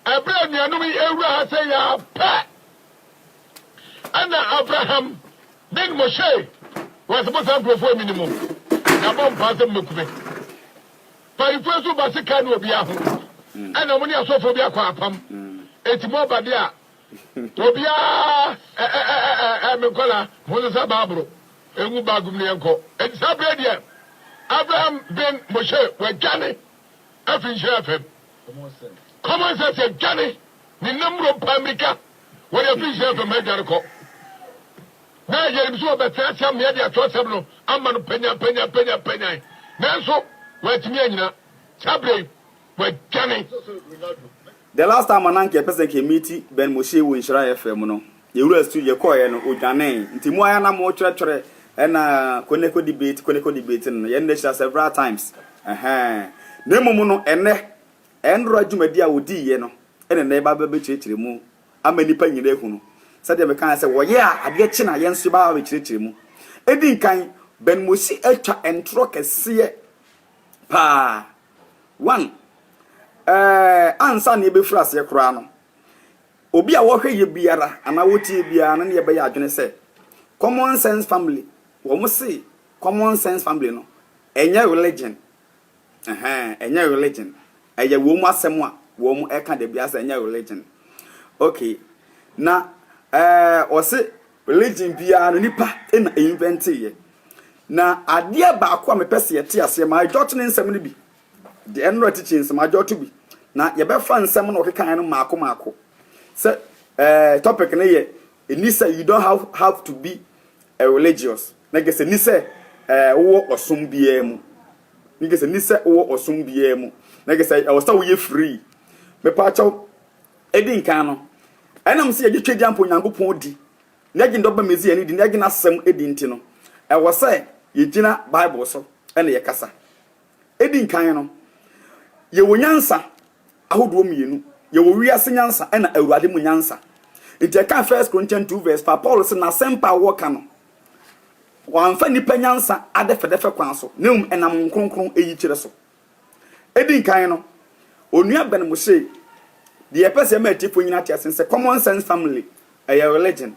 Ɛberɛ a anuanom yi rewura ha sɛ yɛ ara pɛ na Abraham ne Moshe wɔ se, Mosaa nkurɔfoɔ mi no mu, na bɔ mpaa sɛ mobɛku me. Mpaninfoɔ nso ba se kaa ne obiara ho, ɛna mo ne asɔfoɔ bi akɔ apam, enti moba de a, obiara me nkwadaa, monsesa Baabolo ngu baage mu na yɛnkɔ. Enti saa berɛ yi deɛ, Abraham ne Moshe wɔadwane. afi Nhyira FM. Common sense adwane ne nnamuro paa mmirika wɔde afiri Nhyira FM adwane kɔ na yɛnim so wɔbɛtena ase amea de atwerɛsɛm no ama no panyan panyan panyan panyan nanso wɔatumi anyina saa berɛ yi wɔadwane The last time a na anka yɛpɛ sɛ anka yɛ meet Ben Moshe wɔ Nhyira FM no, yɛ wura studio, yɛ kɔɔɛ no, odwanee. Nti mo ara na mo twerɛtwerɛ ɛna Koneko debate, Koneko debate no no, yɛ nna hyira several times. Ɛhɛɛn. Na mmom no ɛnnɛ, ɛnora dwumadi a ɔdii yɛ no, ɛna ɛnnɛ yɛba bɛ bɛkyerɛkyerɛ mu ama nnipa nyina ahu no. Sɛdeɛ me kaeɛ sɛ wɔyɛ a adeɛ kye no a yɛn nso yɛba abɛkyerɛkyerɛ mu. Ɛdi nkan, Ben Moshe atwa ntorɔ kɛseɛ. paa. One, ɛɛ ansa na yɛbɛfiri aseɛ koraa no, obi a wɔhwɛ yɛ biara anaa wɔtie biara no ne yɛbɛyɛ adwene sɛ common sense family, wɔn se common sense family no, ɛnyɛ religion, ɛhɛn, ɛnyɛ religion, ɛyɛ wɔn asɛm a wɔn ɛka da biara sɛ ɛnyɛ religion. Okay, na ɛɛ ɔse Religion biara no nipa na invente yɛ. Na adeɛ baako a mepɛ sɛ yɛte aseɛ, ma jot ne nsɛm no bi. The Enora teachings, ma jot bi. Na yɛbɛfa nsɛm na ɔkekaeɛ no maako maako. Sɛ eh, topic no yɛ, ɛni sɛ you don't have, have to be a religious. Na kɛ sɛ ni sɛ eh, wowɔ ɔsom biara mu. Ne kɛ sɛ ni sɛ wowɔ ɔsom biara mu. Na kɛ sɛ ɛwɔ sɛ woyɛ free. Mepaakyɛw. edi nkan no, ɛnam sɛ yɛgye Tweadia mpo Nyankopɔn di na yɛgye ne Dɔba Mesia no di na yɛgye n'asɛm di nti no, ɛwɔ sɛ yegyina Bible so na yɛkasa. Edi nkan no, yɛwɔ nyansa ahodoɔ mmienu, yɛwɔ wiase nyansa ɛna Awurade mu nyansa. Nti ɛka First Corinthians 2 verse 5, Paulo sɛ n'asɛmpa a wɔka no, wɔamfa nnipa nyansa adɛfɛdɛfɛ kwan so, na mmom ɛnam Honhom Kronkron yikyerɛ so. Edi kan no, Onua Ben mu se, Deɛ yɛpɛ sɛ ɛma atiefo nyinaa te ase ne sɛ common sense family yɛ religion.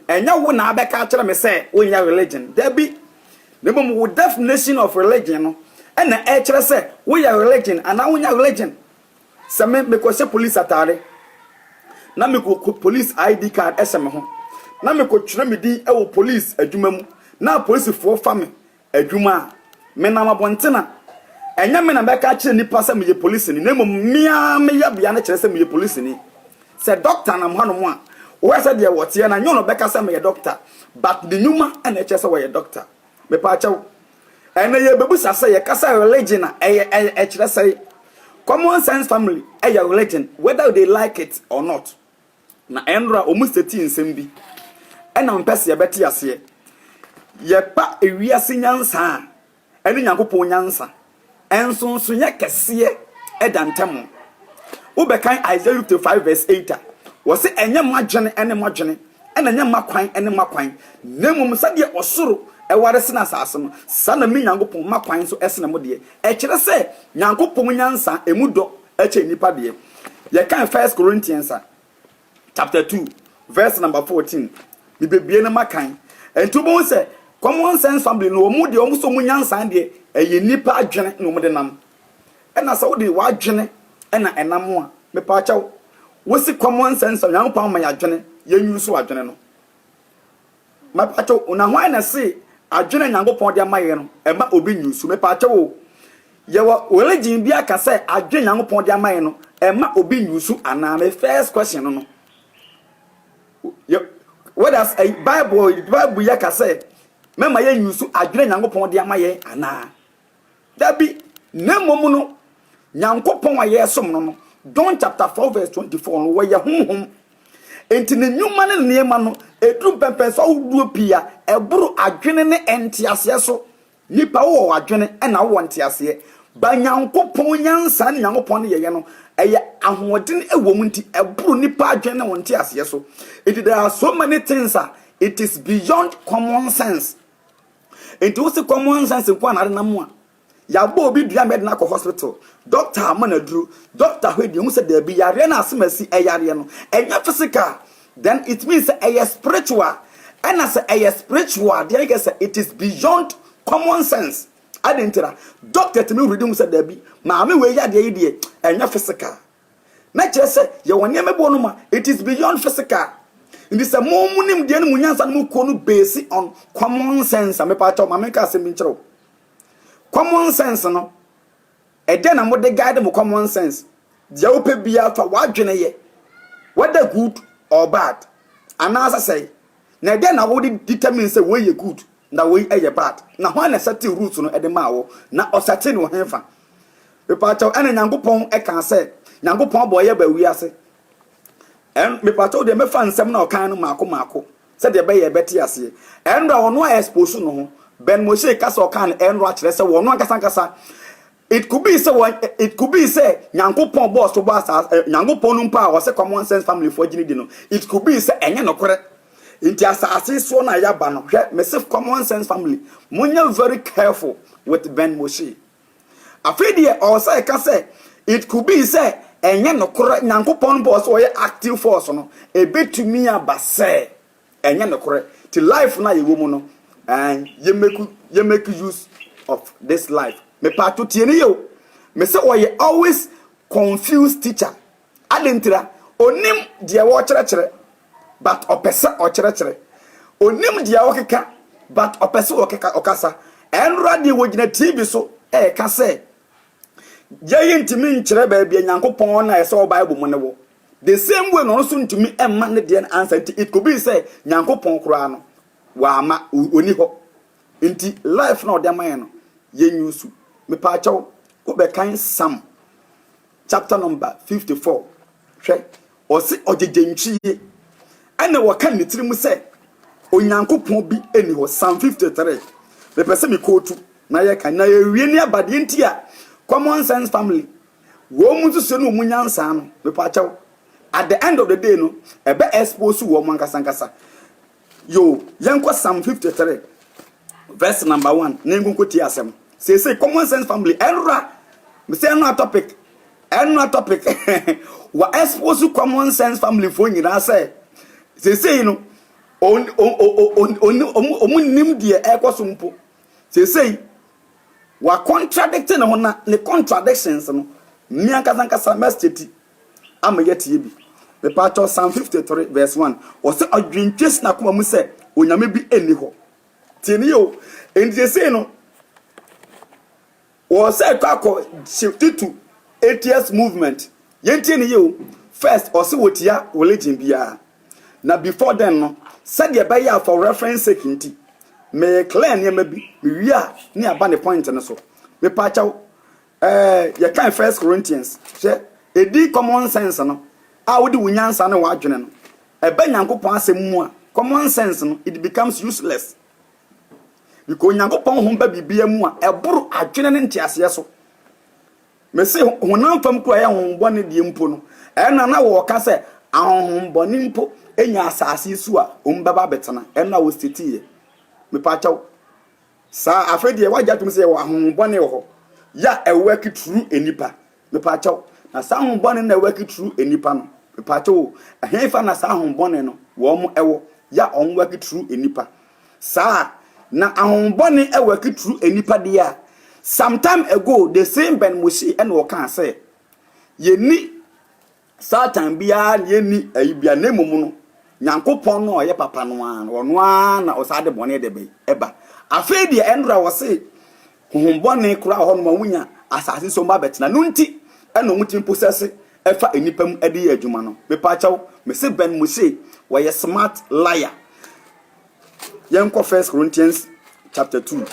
Ɛnyɛ wo na abɛka akyerɛ me sɛ wonyɛ religion. Dabi! Na mmom wo definition of religion no na ɛkyerɛ sɛ woyɛ religion anaa wonyɛ religion. Sɛ me mekɔhyɛ police atade na mekɔ police ID card hyɛ me ho na mekɔtwerɛ me din wɔ police adwuma mu na apolisifoɔ fa me Adwuma, Menam abɔnten a, ɛnyɛ me na mɛka akyerɛ nnipa sɛ meyɛ polisini, na mmom me ara me yɛbea no kyerɛ sɛ meyɛ polisini. Sɛ dɔkta nam hanom a, wohwɛ sɛdeɛ wɔteɛ no a, nyɛ wɔn na wɔbɛka sɛ meyɛ dɔkta, but ne nnwuma na ɛkyerɛ sɛ wɔyɛ dɔkta. Mepaakyɛw, ɛnnɛ yɛrebɛbisa sɛ yɛka sɛ religion a, ɛyɛ, ɛyɛ, ɛkyerɛ sɛe? Common sense family yɛ religion, whether they like it or not. Na nra wɔn sɛti nsɛm bi na wɔpɛ sɛ yɛbɛte aseɛ. Yɛpa ewiase nyansa a ɛne Nyankopɔn nyansa nsonsonoeɛ kɛseɛ da ntam. Wobɛkan Isaiah 55 vs 8 a, wɔse ɛnyɛ m'adwene ne moadwene, ɛna ɛnyɛ m'akwan ne moakwan, na mmom sɛdeɛ ɔsoro ware sene asase no, saa na me Nyankopɔn m'akwan nso sene mo deɛ. Ɛkyerɛ sɛ Nyankopɔn nyansa mu dɔ. Ɛkyɛ nnipa deɛ. Yɛkan First Corinthians a, chapter two, verse number fourteen. Mebɛbue no makan. Ɛnti wobɛhu sɛ Common Sense Family no, wɔn deɛ, wɔn sɛ wɔn nyansa deɛ, ɛyɛ nnipa adwene na wɔde nam. Ɛna sɛ wode w'adwene ɛna ɛnam a, mepaakyɛw, wosi Common Sense a, Nyankopɔn ama yɛn adwene, yɛn use w'adwene no. Mepatwɛw na hwan na se adwene a Nyankopɔn de ama yɛn no ɛma obi nyi nsu? Mepatwɛw o, yɛwɔ religion bi aka sɛ adwene Nyankopɔn de ama yɛn no ɛma obi nyi nsu anaa? Me first question no no. Whereas eh, Bible, Bible yɛ ka sɛ mɛma yɛn nyi nsu adwene Nyankopɔn de ama yɛn anaa? Dabi, na mmom no, Nyankopɔn a yɛresom no no, John chapter 4 verse 24 no, wɔyɛ honhom. Enti ne nnwuma ne ne nneɛma no, ɛduru mpɛmpɛnso ahodoɔ pii a ɛboro adwene ne nteaseɛ so. Nnipa, wowɔ adwene ɛna wowɔ nteaseɛ. Ba Nyankopɔn nyansa ne Nyankopɔn ne yɛyɛ no, ɛyɛ ahoɔden ɛwɔ mu nti, ɛboro nnipa adwene ne wɔn nteaseɛ so. Enti there are so many things a it is beyond common sense. Nti wose common sense nko na ade nam a yɛabɔ obi dua ma yɛde no akɔ hospital, doctor ama no aduro, doctor hwɛ deɛ hu sɛ daabi yareɛ no asemasi ɛyareɛ no ɛnyɛ physical then it means sɛ ɛyɛ spiritual ɛna sɛ ɛyɛ spiritual deɛ ɛyɛ sɛ it is beyond common sense ade ntira doctor tumi hwɛ de hu sɛ daabi maame wei yadeɛ yi deɛ ɛnyɛ physical Na kyerɛ sɛ yɛwɔ nneɛma bi wɔ no ma it is beyond physical. Nti sɛ mo mo nimdeɛ no mo nyansa no mo kuo no base on common sense a mepa akyɛw ma menka asɛm bi nkyerɛw. Common sense no ɛdɛ na mo de guide mo common sense. Deɛ wopɛ biara fa w'adwene yɛ whether good or bad anaasɛ sɛe. Na ɛdɛ na wode determine sɛ wei yɛ good Na woi ɛyɛ bad. Na hwan na ɛsɛtee Ruth no de maa wo? Na ɔsɛtee no henfa? Mepaakyɛw ɛna Nyankopɔn kaa sɛ Nyankopɔn abɔ yɛ ba wiase ɛn mepaakyɛw deɛ mɛfa nsɛm na ɔkaeɛ no maako maako sɛdeɛ ɛbɛyɛ ɛbɛte aseɛ ɛnra ɔno a expose no ho Ben Moshe ka sɛ ɔkaa no ɛnra kyerɛ sɛ wɔno ankasa ankasa It could be sɛ wɔn it could be sɛ Nyankopɔn bɔɔ so bɔ asaase eh, Nyankopɔn no mpo a wɔsɛ common sense family foɔ gyini di no it could be sɛ ɛnyɛ nokorɛ nti asaase soɔ na yaba no hwɛ mese common sense family monyɛ very careful with Ben Moshe afei deɛ ɔwɔ sɛ ɛka sɛ it could be sɛ ɛnyɛ nokorɛ Nyankopɔn bɔɔ so ɔyɛ active force no ɛbɛtumi aba sɛ Ɛnyɛ nokorɛ ti life no a yɛwɔ mu no ɛɛn yɛ make yɛ make use of this life mepaato tie ne yɛ o mesɛ ɔyɛ always confused teacher ade ntira onim deɛ wɔkyerɛkyerɛ but ɔpɛ sɛ ɔkyerɛkyerɛ onim deɛ ɔkeka but ɔpɛ sɛ ɔkeka ɔkasa ɛnora deɛ wɔgyina tv so ɛɛka sɛ yɛyi ntumi nkyerɛ baabi a nyankopɔn na ɛsɛ wɔ bible mu ne wɔ The same way na ɔno nso ntumi mma ne deɛ no ansa nti it could be sɛ Nyankopɔn koraa no wama ɔni hɔ nti life na ɔde ama yɛn no yɛn use. Mepaakyɛw wobɛkan Psalm chapter number 54 hwɛ ɔse ɔgyegye ntwie ɛna wɔka ne tiri mu sɛ Onyankopɔn bi ɛni hɔ Psalm 53 mepɛ sɛ mekootu na yɛka na yɛwie ne abadeɛ nti a common sense family Wɔn mu nso sɛ no wɔn nyansaa no mepakyɛw at the end of the day no ɛbɛ expose wɔn ankasa ankasa yoo yɛnkɔ psalm 53 verse number one na yɛnkɔnkɔ tie asɛm seesei common sense family ɛnora mesɛ ɛnora topic ɛnora topic wa expose common sense family foɔ nyinaa sɛ seesei no ɔmu nim deɛ ɛkɔ so mpo Seesei, wɔacontradict ne ho na ne contradictions no, me ankasa ankasa mɛstate ti ama yɛatie bi. Mepaakyɛw Psalm 53 verse 1, ɔse, Ɔdwentwe si n'akoma mu sɛ Onyame bi nni hɔ. Tie no yie o. Enti seesei no, Wɔn sɛ ɛtɔ akɔ shifti to atheist movement yɛntie no yie o first ɔse wɔtia religion biara na before then no sɛdeɛ ɛbɛyɛ a for reference sake nti me clear nneɛma bi me wie a ne yɛaba ne point no so mepaakyɛw eh, yɛkan first Corinthians hwɛ ɛdi common sense no a wode wo nyansa ne w'adwene no ɛbɛ Nyankopɔn asɛm mu a common sense no it becomes useless Meka Onyankopɔn ho ba biribiara mu a ɛboro adwene ne nteaseɛ so. Mese honam fam kura yɛ honhombɔne deɛ mpo no, ɛna na wɔka sɛ ahonhombɔne mpo nya asase so a wɔn bɛba abɛtena, ɛna wɔsitiiɛ. Mepaakyɛw. Saa, afei deɛ wagye atom sɛ yɛwɔ ahonhombɔne wɔ hɔ, yɛ a ɛwɔ akituru nnipa Mepaakyɛw, na saa ahom bɔne no na ɛwɔ akitru nnipa no? Mepaakyɛw o, ɛhefa na saa ahom bɔne no wɔn ɛwɔ, yɛ a wɔn wɔ akitru nnipa? Saa a, na ahom bɔne ɛwɔ akitru nnipa deɛ a, sometime ago, the same Ben Mushi ɛna ɔkaa sɛ, yɛnni Satan biara na enni ayi biara, na mmom no, Nyankopɔn no a ɔyɛ papa no ara no, ɔno ara na ɔsaa de bɔne de bɛn, ɛba. Afei deɛ, ɛno koraa wɔse, honhom bɔne koraa wɔ hɔnom a wɔnya asase so mma bɛtena, ɛno nti na wɔtumi posɛse fa nnipa mu de yɛ adwuma no. Mepaakyɛw, mese bɛn mo se wɔyɛ smart liar. Yɛnkɔ First Corinthians chapter two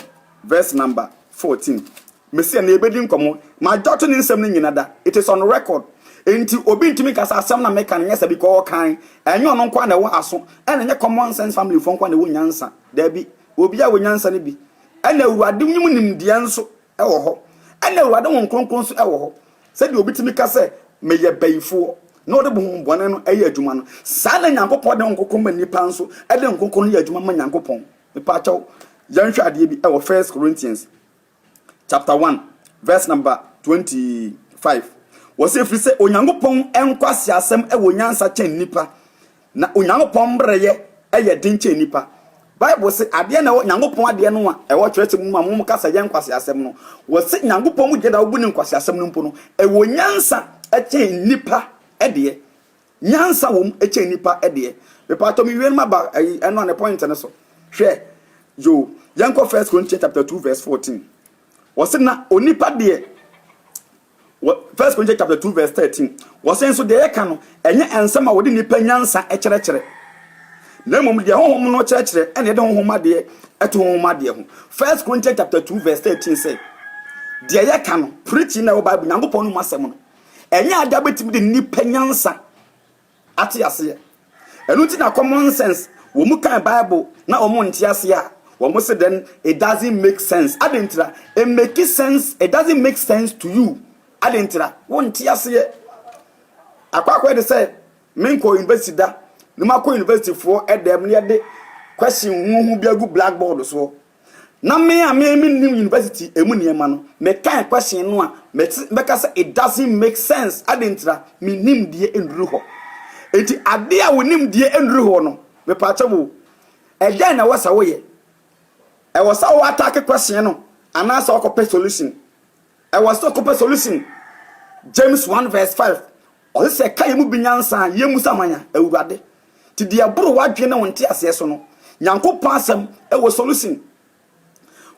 verse number fourteen. Mese ɛno yɛbɛdi nkɔmmɔ. Majority ne nsɛm no nnyina da. It is on record. Enti obi ntumi nka sɛ asɛm no a meka no nyɛ sɛ bi kɔ ɔɔkan. Ɛnyɛ ɔno nko ara na ɛwɔ aso. Ɛna ɛnyɛ common sense family foɔ nko ara na ɛwɔ nyansa. Daabi. Obiara wɔ nyansa no bi. Ɛna Awurade nwom nimdeɛ nso wɔ hɔ. Ɛna Awurade Honhom Kronkron nso wɔ hɔ. Sɛdeɛ obi tumi ka sɛ, Meyɛ bayifoɔ, na ɔde honhom bɔne no yɛ adwuma no, saa na Nyankopɔn de Honhom Kronkron ma nnipa nso de Honhom Kronkron no yɛ adwuma ma Nyankopɔn. Mepaakyɛw, yɛnhwɛ adeɛ bi wɔ First Corinthians. chapter one verse number twenty five. Wɔsi efiri sɛ Onyankopɔn nkwasi asɛm wɔ nyansa kyɛn nipa, na Onyankopɔn mmerɛyɛ yɛ den kyɛn nipa. Bible se adeɛ na ɛwɔ Nyankopɔn adeɛ no a ɛwɔ twerɛsɛm no mu a mo ka sɛ yɛ nkwasi asɛm no. Wɔsi Nyankopɔn mu gyeda wobu ne nkwasi asɛm no mpo no ɛwɔ nyansa kyɛn nipa deɛ. Nyansa wɔ mu kyɛn nnipa deɛ. Mepatɔ me wie no maba ɛyi ɛno a ne point no so. Hwɛ yo yɛn kɔ first Corinthians chapter two verse fourteen. Wɔsi na onipa deɛ wɔ first Corinthians chapter two verse thirteen. Wɔsi nso deɛ yɛka no ɛnyɛ nsɛm a wɔde nipa nyansa kyerɛkyerɛ. Na mmom deɛ honhom no kyerɛkyerɛ ɛna ɛde honhom adeɛ ɛto honhom adeɛ ho. First Corinthians chapter two verse thirteen sɛ deɛ yɛka no preaching na ɛwɔ Bible Nyankopɔn no mu asɛm no. Ɛnyɛ ade a wobɛtumi de nnipa nyansa ate aseɛ. Ɛno nti na common sense, wɔn mu kan Bible na wɔn nte aseɛ a, wɔn se then it doesn't make sense. Ade ntira, it make sense, it doesn't make sense to you. Ade ntira, wonte aseɛ. Akɔ akɔ de sɛ, menkɔ university da, na makɔ universityfoɔ dɛm na yɛde question huhu bi agu blackboard soɔ. Na me a me mennim university ɛmu nneɛma no, mekae question no a, mɛte bɛka sɛ it doesn't make sense, adɛn ntira? Me nimdeɛ nnuru hɔ. Enti adeɛ a wo nimdeɛ nnuru hɔ no, mepaakyɛ wo, ɛdɛn na ɛwɔ sɛ woyɛ? Ɛwɔ sɛ wo attack question no anaasɛ wokɔpɛ solution? Ɛwɔ sɛ ɔkɔpɛ solution. James one verse five, Ɔse sɛ ɛka yɛn mu bi nyansa a, yɛmmusa ma yɛn, Awurade. Nti deɛ ɛboro w'adwene ne wo nteaseɛ so no, Nyankopɔn asɛm wɔ solution.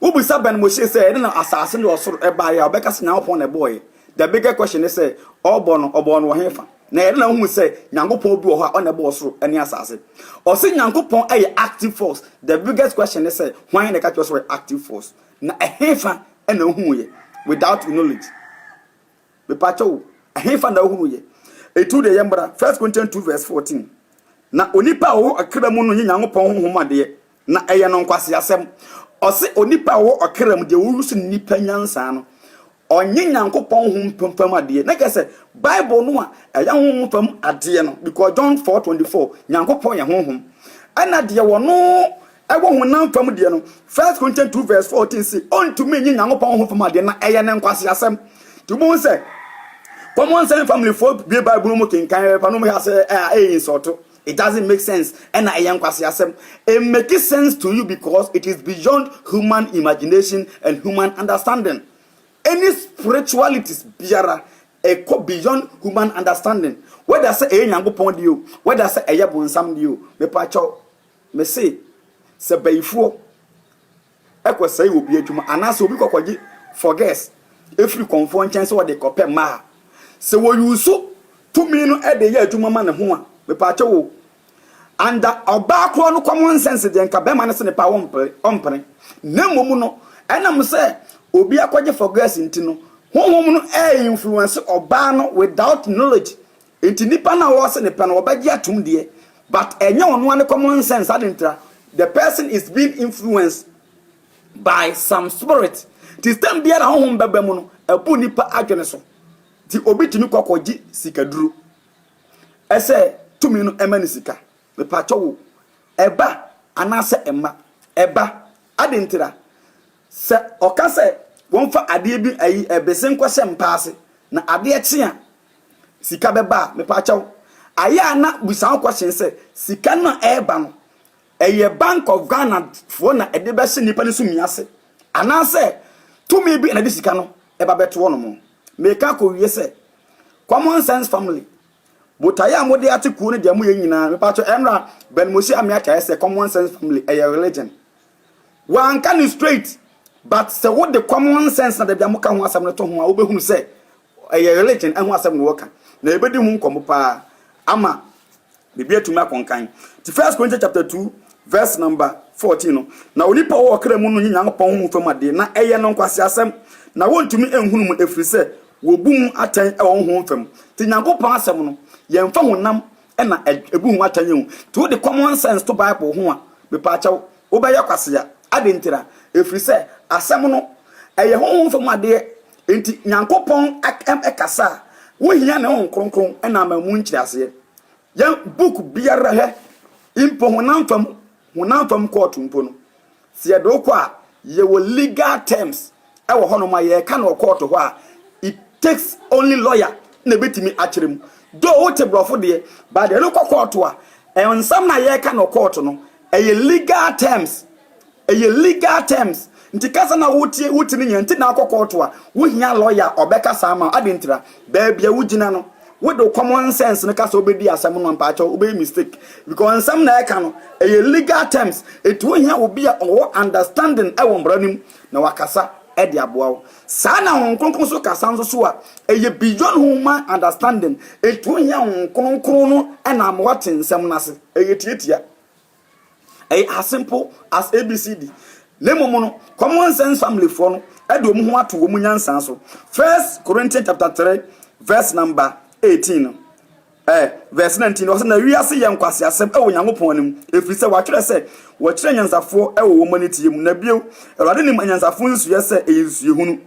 Wobisa Ben Moshe sɛ ɛdɛn na asase ne ɔsoro ɛbaeɛ a, ɔbɛka sɛ Nyankopɔn na ɛbɔɔɛ. The bigger question ne sɛ, ɔbɔ no, ɔbɔɔ no wɔ hefa? Na ɛdɛn na wohu sɛ Nyankopɔn bi wɔ hɔ a ɔna ɛbɔɔ ɔsoro ne asase? Ɔse Nyankopɔn yɛ active force. The biggest question ne sɛ, hwan na ɛka kyerɛ wo sɛ ɔyɛ active force? Na ɛhefa na ohuu yɛ without knowledge? Mepakyɛ wo, ɛhefa na ohunu yɛ? Etu deɛ yɛ mbra, First Corinthians 2 verse 14. Na onipa a ɔwɔ ɔkra mu no yɛ Nyankopɔn Honhom adeɛ, na ɛyɛ no nkwaseasɛm. Ɔse onipa a ɔwɔ ɔkra mu, deɛ ɔwusu no nipa nyansa no, Ɔnnyɛ Nyankopɔn hom fam fam adeɛ, na kyerɛ sɛ, Bible no a ɛyɛ honhom fam adeɛ no, because John four twenty four, Nyankopɔn yɛ honhom, ɛna deɛ wɔno ɛwɔ honam fam deɛ no, First Corinthians two verse fourteen se, ɔntumi nnye Nyankopɔn honhom fam adeɛ, na ɛyɛ no nkwaseasɛm. Nti wobɛhu sɛ, common sense family foɔ bue Bible no mu kenkan pɛpɛɛpɛ a na wɔyɛ ase a ɛyɛ insult. It doesn't make sense, ɛna ɛyɛ nkwaseasɛm. It makes sense to you because it is beyond human imagination and human understanding. Any spiritualities biara, ɛkɔ beyond human understanding. Whether sɛ ɛyɛ Nyankopɔn deɛ o, whether sɛ ɛyɛ bonsam deɛ o, mepakyɛw, mese, sɛ bayifoɔ kɔsɛe obi adwuma anaasɛ obi kɔkɔgye forges firi kɔmfoɔ nkyɛn sɛ ɔde rekɔpɛ mma a, sɛ wɔyuuso tumi no de yɛ adwuma ma ne ho a, mepaakyɛw o, under ɔbaa korɔ no common sense deɛ nka barima no se ne paa ɔmpene, na mmom no ɛnam sɛ obi akɔgye forges nti no, honhom no reinfluence ɔbaa no without knowledge Nti nipa no a ɔse ne pɛ no ɔbɛgye atom deɛ but ɛnyɛ ɔno ara ne common sense ade ntra the person is being influenced by some spirit nti stem biara honhom bɛba mu no ɛbu nipa adwene so nti obi tumi kɔ kɔ gye sika duro ɛsɛ tumi no ɛma ne sika mepakyɛ wo ɛba anaasɛ ɛma ɛba ade ntra Sɛ ɔka sɛ wɔmfa adeɛ bi ayi bese nkɔhyɛ mpa ase na adeɛ kye a sika bɛba a, mepaakyɛw, ayɛ a na bisa ho question sɛ, sika no a ɛreba no, ɛyɛ Bank of Ghana foɔ na ɛde bɛhyɛ nnipa no sumi ase anaasɛ tumi bi na ɛde sika no ba bɛto wɔnom? Meka kɔwie sɛ, Common Sense Family, botaeɛ a mode ate kuo no deɛ moyɛ nyinaa, mepaakyɛw, ɛnora Ben Mosi Ameakyɛ ayɛ sɛ Common Sense Family ɛyɛ religion. Wanka no straight but sɛ wode common sense na dabi a moka ho asɛm no to ho a wobɛhunu sɛ ɛyɛ religion ɛho asɛm na wɔka na yɛbɛdi ho nkɔmmɔ paa ama biribi atumi akɔnkan nti first Corinthians chapter 2 verse number 14 no na onipa wɔ ɔkra mu no nyɛ Nyankopɔn honhom fam adeɛ na ɛyɛ no nkwaseasɛm na wɔntumi nhunu mu ɛfiri sɛ wɔbu mu atɛn ɛwɔ honhom fam nti Nyankopɔn asɛm no yɛmfa honam na ebu ho atɛn o, nti wode common sense to Bible ho a, mepaakyɛw, wobɛyɛ kwasea. Adɛn ntira? Efiri sɛ, Asɛm no, ɛyɛ honhom fam adeɛ, nti Nyankopɔn kasa a, wohia Ne Honhom Kronkron na ama mu nkyerɛaseɛ. Yɛn book biara hɛ, mpo honam fam Honam fam kɔɔto mpo no, sɛ yɛde wo kɔ a, yɛwɔ legal terms wɔ hɔnom a yɛka no wɔ kɔɔto hɔ a, it takes only lawyer na ɛbɛtumi akyerɛ mu. Though wote borɔfo deɛ, but deɛ yɛde wo kɔ kɔɔto a, nsɛm no a yɛka no wɔ kɔɔto no, ɛyɛ legal terms. Ɛyɛ legal terms. Nti kasa no a wotie, wote no nyinaa, nti na wokɔ kɔɔto a, wohia lawyer a ɔbɛkasa ama wo. Adɛn ntira? Baabi a wogyina no. Wo de wo common sense no kasa obedi asɛm no a mpakyɛw wobɛyɛ mistake because nsɛm na ɛka no ɛyɛ legal terms enti wohia obi a ɔwɔ understanding ɛwɔ mmara no mu na wakasa ɛde aboa wo. Saa na Honhom Kronkron nso kasa nso so a ɛyɛ beyond human understanding enti wohia Honhom Kronkron no ɛnam wate nsɛm no ase ɛyɛ tiatia. Ɛyɛ as simple as ABCD. Na mmom no, Common Sense Family foɔ no de wɔn ho ato wɔn nyansa so. First Corinthians chapter 3 verse number 18 no, eh, verse 19 no, ɔsɛ na wiase yɛ nkwaseasɛm wɔ Nyankopɔn anim, ɛfiri sɛ wɔatwerɛ sɛ, wɔkyerɛ anyansafoɔ wɔ wɔn aniteɛ mu. Na bio, Awurade nim anyansafoɔ nsuiɛ sɛ ɛyɛ nsuihunu.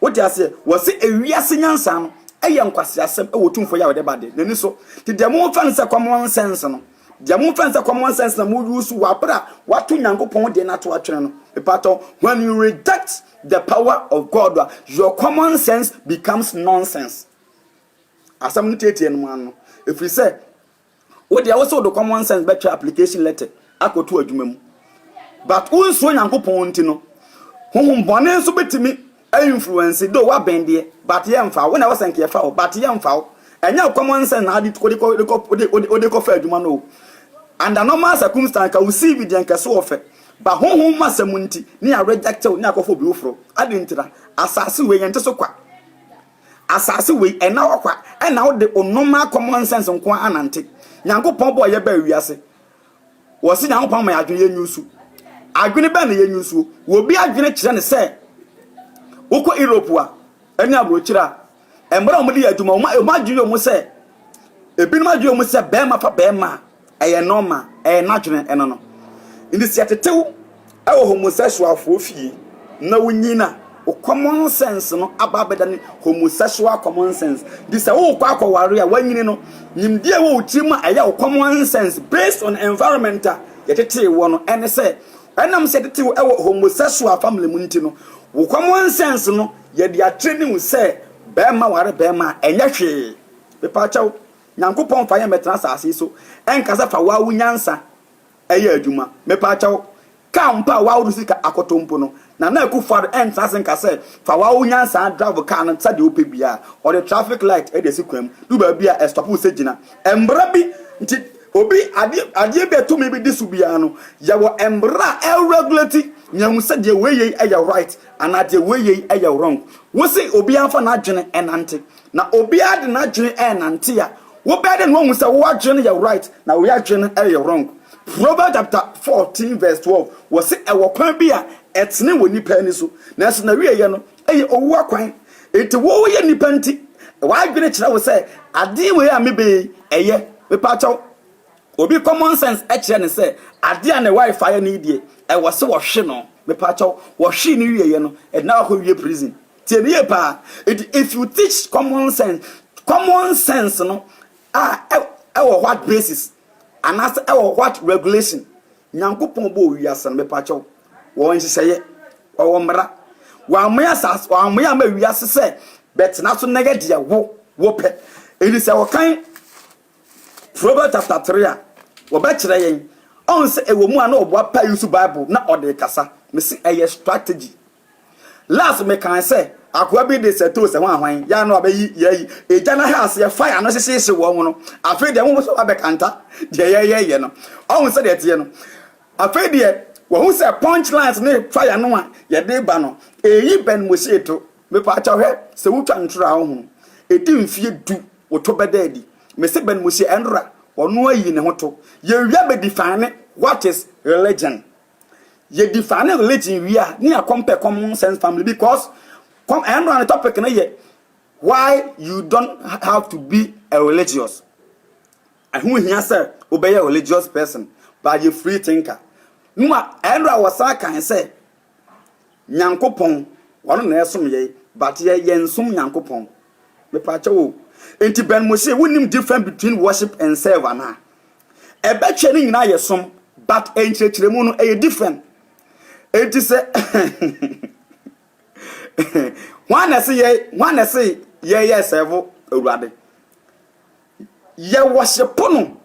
Wote aseɛ? Wɔse ewiase nyansa no ɛyɛ nkwaseasɛm wɔ Otumfoɔ Yahweh de ba de n'ani so. Te deɛ momfa no sɛ common sense no. Deɛ momfa nsa common sense na mo use wɔ abere a wato Nyankopɔn deɛ no ato atwene no. Mepatɔ, when you reject the power of God a, your common sense becomes nonsense. Asɛm no tietie no mu ano. Ɛfiri sɛ, wo deɛ wo sɛ wode common sense bɛtwerɛ application letter akɔto adwuma mu. But wonsuo Nyankopɔn nti no, honhom bɔne nso bɛtumi Ɛyɛ influence though w'abɛn deɛ but yɛ nfa wo wo na ɛwɔ sɛ nka yɛ fa wo but yɛ nfa wo ɛnyɛ wo common sense na ade wode kɔ wode kɔ wode kɔ fa adwuma no o under normal circumstance ka wo CV deɛ nka so ɔfɛ ba honhom ma sɛm nti ne yɛ reject wo ne akɔfa obi woforo ade ntira asase wei yɛn te so kwa asase wei ɛna hɔ kwa ɛna wode o normal common sense nko anante nyankopɔn bɔ yɛ ba wiase Wɔse Nyankopɔn ama yɛn adwene, yɛnyɛ nsu. Adwene bɛn na yɛnyɛ nsuo? Wɔ obi adwene kyerɛ ne sɛ, wokɔ Europe a, ɛne aburokyerɛ a, mmerɛ a wɔde yɛ adwuma, wɔn adwene yɛ wɔn sɛ, ebinom adwene wɔn sɛ bɛrima fa bɛrima a, ɛyɛ nɔɔma, ɛyɛ n'adwene ɛno no. Nti sɛ yɛtetew Ɛwɔ homosexualfoɔ fie na wonyin a, wo common sense no aba abɛdane homosexual common sense. Nti sɛ wokɔ akɔware a wanyini no, nimdeɛ ɛwɔ wo tirim a ɛyɛ wo common sense based on environment a yɛtetee woɔ no ɛne sɛ, ɛnam sɛ yɛtetee wo ɛwɔ homosexual family mu nti no, wo common sense no yɛde atraini wo sɛ barima ware barima a ɛnyɛ hwee. Mepaakyɛw, Nyankopɔn mfa yɛn mmɛtena asase yi so ɛnka sɛ fa wo ara wo nyansa Ɛyɛ adwuma. Mepaakyɛw, kaa mpo a w'awodo sika akoto mpo no, Nana Akufo-Addo ɛntra ase nka sɛ fa w'awo nyansaa drive kaa no sɛdeɛ wopɛ biara. Ɔde traffic light de asi kwan mu, du baabi a ɛstop wo sɛ gyina. Mbra bi nti, obi adeɛ adeɛ bi a tumi bi di so biara no, yɛwɔ mbra a ɛregulate nea hu sɛ deɛ wei yei yɛ right anaa deɛ wei yei yɛ wrong. Wose obiara mfa n'adwene nnante, Na obiara de n'adwene ɛrenante a, wobɛyɛ dɛ na wahu sɛ wo adwene no yɛ right na wei adwene no ɛyɛ wrong. Proverbs chapter fourteen verse twelve, wɔse ɛwɔ kwan bi a ɛtene wɔ nnipa ani so, nanso n'awieɛ no ɛyɛ owu akwan. Enti woyɛ nnipa nti, w'adwene kyerɛ wo sɛ adeɛ wei a mebɛyɛ yi ɛyɛ? Mepaakyɛw, obi common sense ɛkyerɛ no sɛ adeɛ a ne wife ayɛ no yi deɛ ɛwɔ se wɔhwe no, mepaakyɛw, wɔhwee no wieɛ no ɛde no akɔwie prison. Tie me yie paa. Enti if you teach common sense, common sense no a ɛwɔ what basis? Anaasɛ ɛwɔ what regulation? Nyankopɔn bɔɔ wiase no, mepa kyɛw, wɔwɔ nhyehyɛeɛ, wɔwɔ mmara. Wɔamoe asase, wɔamoe ama wiase sɛ bɛtena so na yɛ deɛ wo, wo pɛ. Enti sɛ wɔkan Proverbs chapter 3 a, wɔbɛkyerɛ yɛn. Ɔn sɛ ɛwɔ mu a na ɔboapa yi so Bible na ɔde kasa. Mese ɛyɛ strategy. Last mekãe sɛ akoa bi de sɛtoo sɛ hwanhwan yɛ a na wabeyi yɛayi egya no ha aseɛ fire no hyehyeehye wɔn no afei deɛ woho sɛ wabɛkanta deɛ yɛyɛyɛ no ɔho sɛdeɛ ɛteɛ no afei deɛ wahu sɛ punch lines ne fire no a yɛde ba no eyi bɛn mo hyee to mepaakyɛw hwɛ sɛ wotwa ntoro a ɔho edi mfie du woto bɛda adi mese bɛn mo hyee ɛnora ɔno ayi ne ho to yɛwia bɛdi fane what is religion yɛ define religion wie a ne yɛ compare common sense family because com ɛno na ne topic no yɛ why you don't have to be a religious ɛho hia sɛ wobɛyɛ religious person but yɛ free thinker no a ɛno a wɔsan kan sɛ Nyankopɔn ɔno na yɛsom yɛi but yɛ yɛnsom Nyankopɔn mepakyɛw o nti Ben mo se wonim different between worship and serve anaa ɛbɛtwɛ ne nyinaa yɛ som but nkyerɛkyerɛmu no ɛyɛ different nti sɛ hwan na ɛse yɛ hwan na ɛse yɛyɛ serve awurade Yɛ wɔhye po no.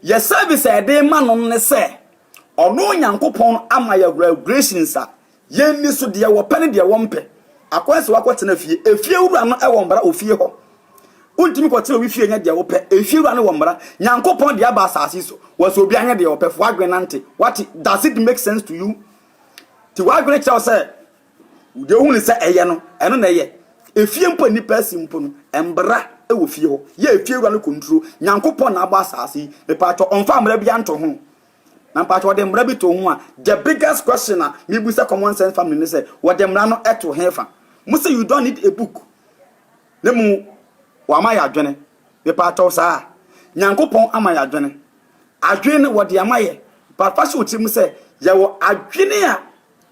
Yɛ service a yɛde rema no no ne sɛ, ɔno Onyankopɔn no ama yɛ regulations a yɛnni so, deɛ wɔpɛ ne deɛ wɔmpɛ. Akwan sɛ woakɔtena fie. Efie wura no wɔ mmara wɔ fie hɔ. Wontumi kɔtena obi fie nyɛ deɛ wopɛ. Efie wura no wɔ mmara. Nyankopɔn de aba asase so. Wɔsɛ obi anyɛ deɛ ɔpɛ. Fa w'adwene nante. Wate? Does it make sense to you? Ti w'adwene kyerɛ wo sɛ Deɛ wohunu sɛ ɛyɛ no, ɛno na ɛyɛ. Efie mpo a nnipa asi mpo no, mmara wɔ fie hɔ. Yɛ efiewura no control. Nyankopɔn na abɔ asaase yi. Mepaakyɛw, ɔmfa mmara biara nto ho. Na mepaakyɛw, ɔde mmara bi to ho a, the biggest question a mebu sɛ common sense family ne sɛ, wɔde mmara no to hefa? Mo se you don't need a book, na mmom wama yɛ adwene. Mepaakyɛw saa. Nyankopɔn ama yɛ adwene. Adwene no, wɔde ama yɛ. But fa hyɛ wo tirim sɛ, yɛwɔ adwene a.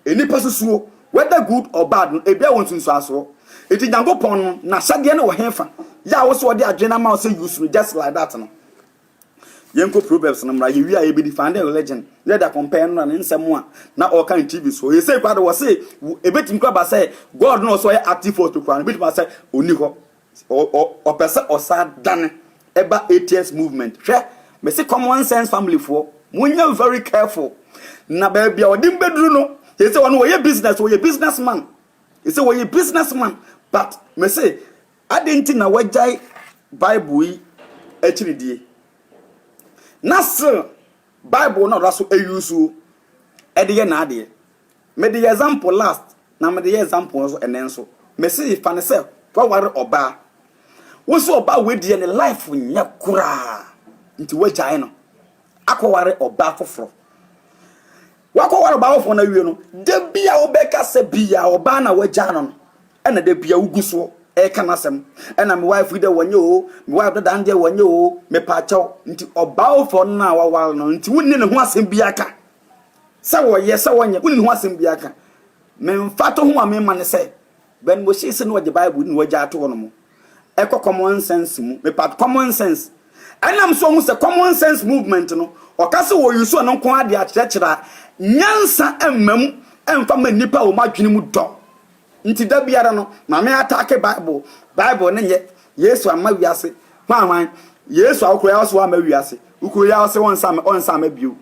Nnipa susuo, whether good or bad no, ebiaa wɔ nsunsuasoɔ. Nti Nyankopɔn no N'ahyɛdeɛ no wɔ hefa? Yɛ a wo so ɔde adwene no ama wo sɛ use no just like that no. Yɛnkɔ Proverbs no mmra, yɛwie a yɛbɛ defend religion, na yɛde akɔmpare no na ne nsɛm a na ɔreka no TV soɔ. Seesei koraa de, wɔse, ebetumi koraa aba sɛ God no a ɔse ɔyɛ active force no koraa no, ebetumi aba sɛ ɔnni hɔ. Ɔpɛ sɛ ɔsan dane ba ATS movement. Hwɛ, me se common sense family foɔ, mo nyɛ very careful. Na baabi a ɔde mo bɛduru no, yɛ sɛ ɔno ɔyɛ business, ɔyɛ business man. Yɛ sɛ ɔyɛ business man, but me se adɛn nti na wagyae Bible yi akyiridie? Na still Bible no a ɔda so ayusuo de yɛ n'adeɛ. Me de yɛ example last na me de yɛ example nso ɛnɛ nso. Me se fa no sɛ waware ɔbaa. Wo se ɔbaa wei deɛ ne life nyɛ koraa nti wagyae no akɔware ɔbaa foforɔ. Wakɔware ɔbaa foforɔ no awie no, da bi a wobɛkasa bi a ɔbaa na wagyae no no ɛna da bi a wogu soɔ ɛka no asɛm. Ɛna me wife yi deɛ wɔnyɛ o, me wife dada no deɛ wɔnyɛ o, mepaakyɛw. Nti ɔbaa foforɔ no a waware no nti wonni ne ho asɛm biara ka. Sɛ wɔyɛ, sɛ wɔnyɛ, wonni ho asɛm biara ka. Me mfatoho a mema ne sɛ, Ben Boschee se na ɔgye Bible di na wagyaa ato hɔnom. Ɛkɔ common sense mu. Mepa atɔ common sense. Ɛnam so ɔhu sɛ common sense movement no, ɔka sɛ wɔ use ɔno nko ara de akyerɛkyerɛ a, nyansa mma mu mfa mma nnipa a wɔn adwene mu dɔ Nti da biara no Maame ataake bible bible ne nyɛ Yesu amma wiase hwan hwan Yesu a wokuro yaw se woamma wiase wokuro yaw se ɔnsa ɔnsa amma bio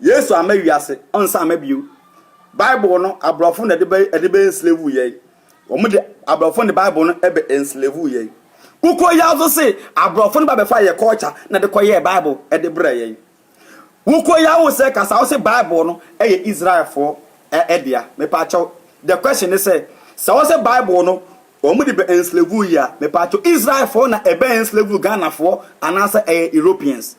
Yesu amma wiase ɔnsa amma bio bible no abrɔfo na de bɛ de bɛ enslave yɛn wɔn de abrɔfo ne bible no ɛbɛ enslave yɛn wokuro yaw so se abrɔfo no ba bɛfa yɛ culture na de kɔ yɛ bible ɛde brɛ yɛn Wokɔ yaw sɛ kasa a wose bible no yɛ Israelfoɔ dea mepaakyɛw the question ne sɛ sɛ wose bible no wɔn de bɛ enslave yi a mepaakyɛw Israelfoɔ na ɛbɛ enslave Ghanafoɔ anaasɛ ɛyɛ Europeans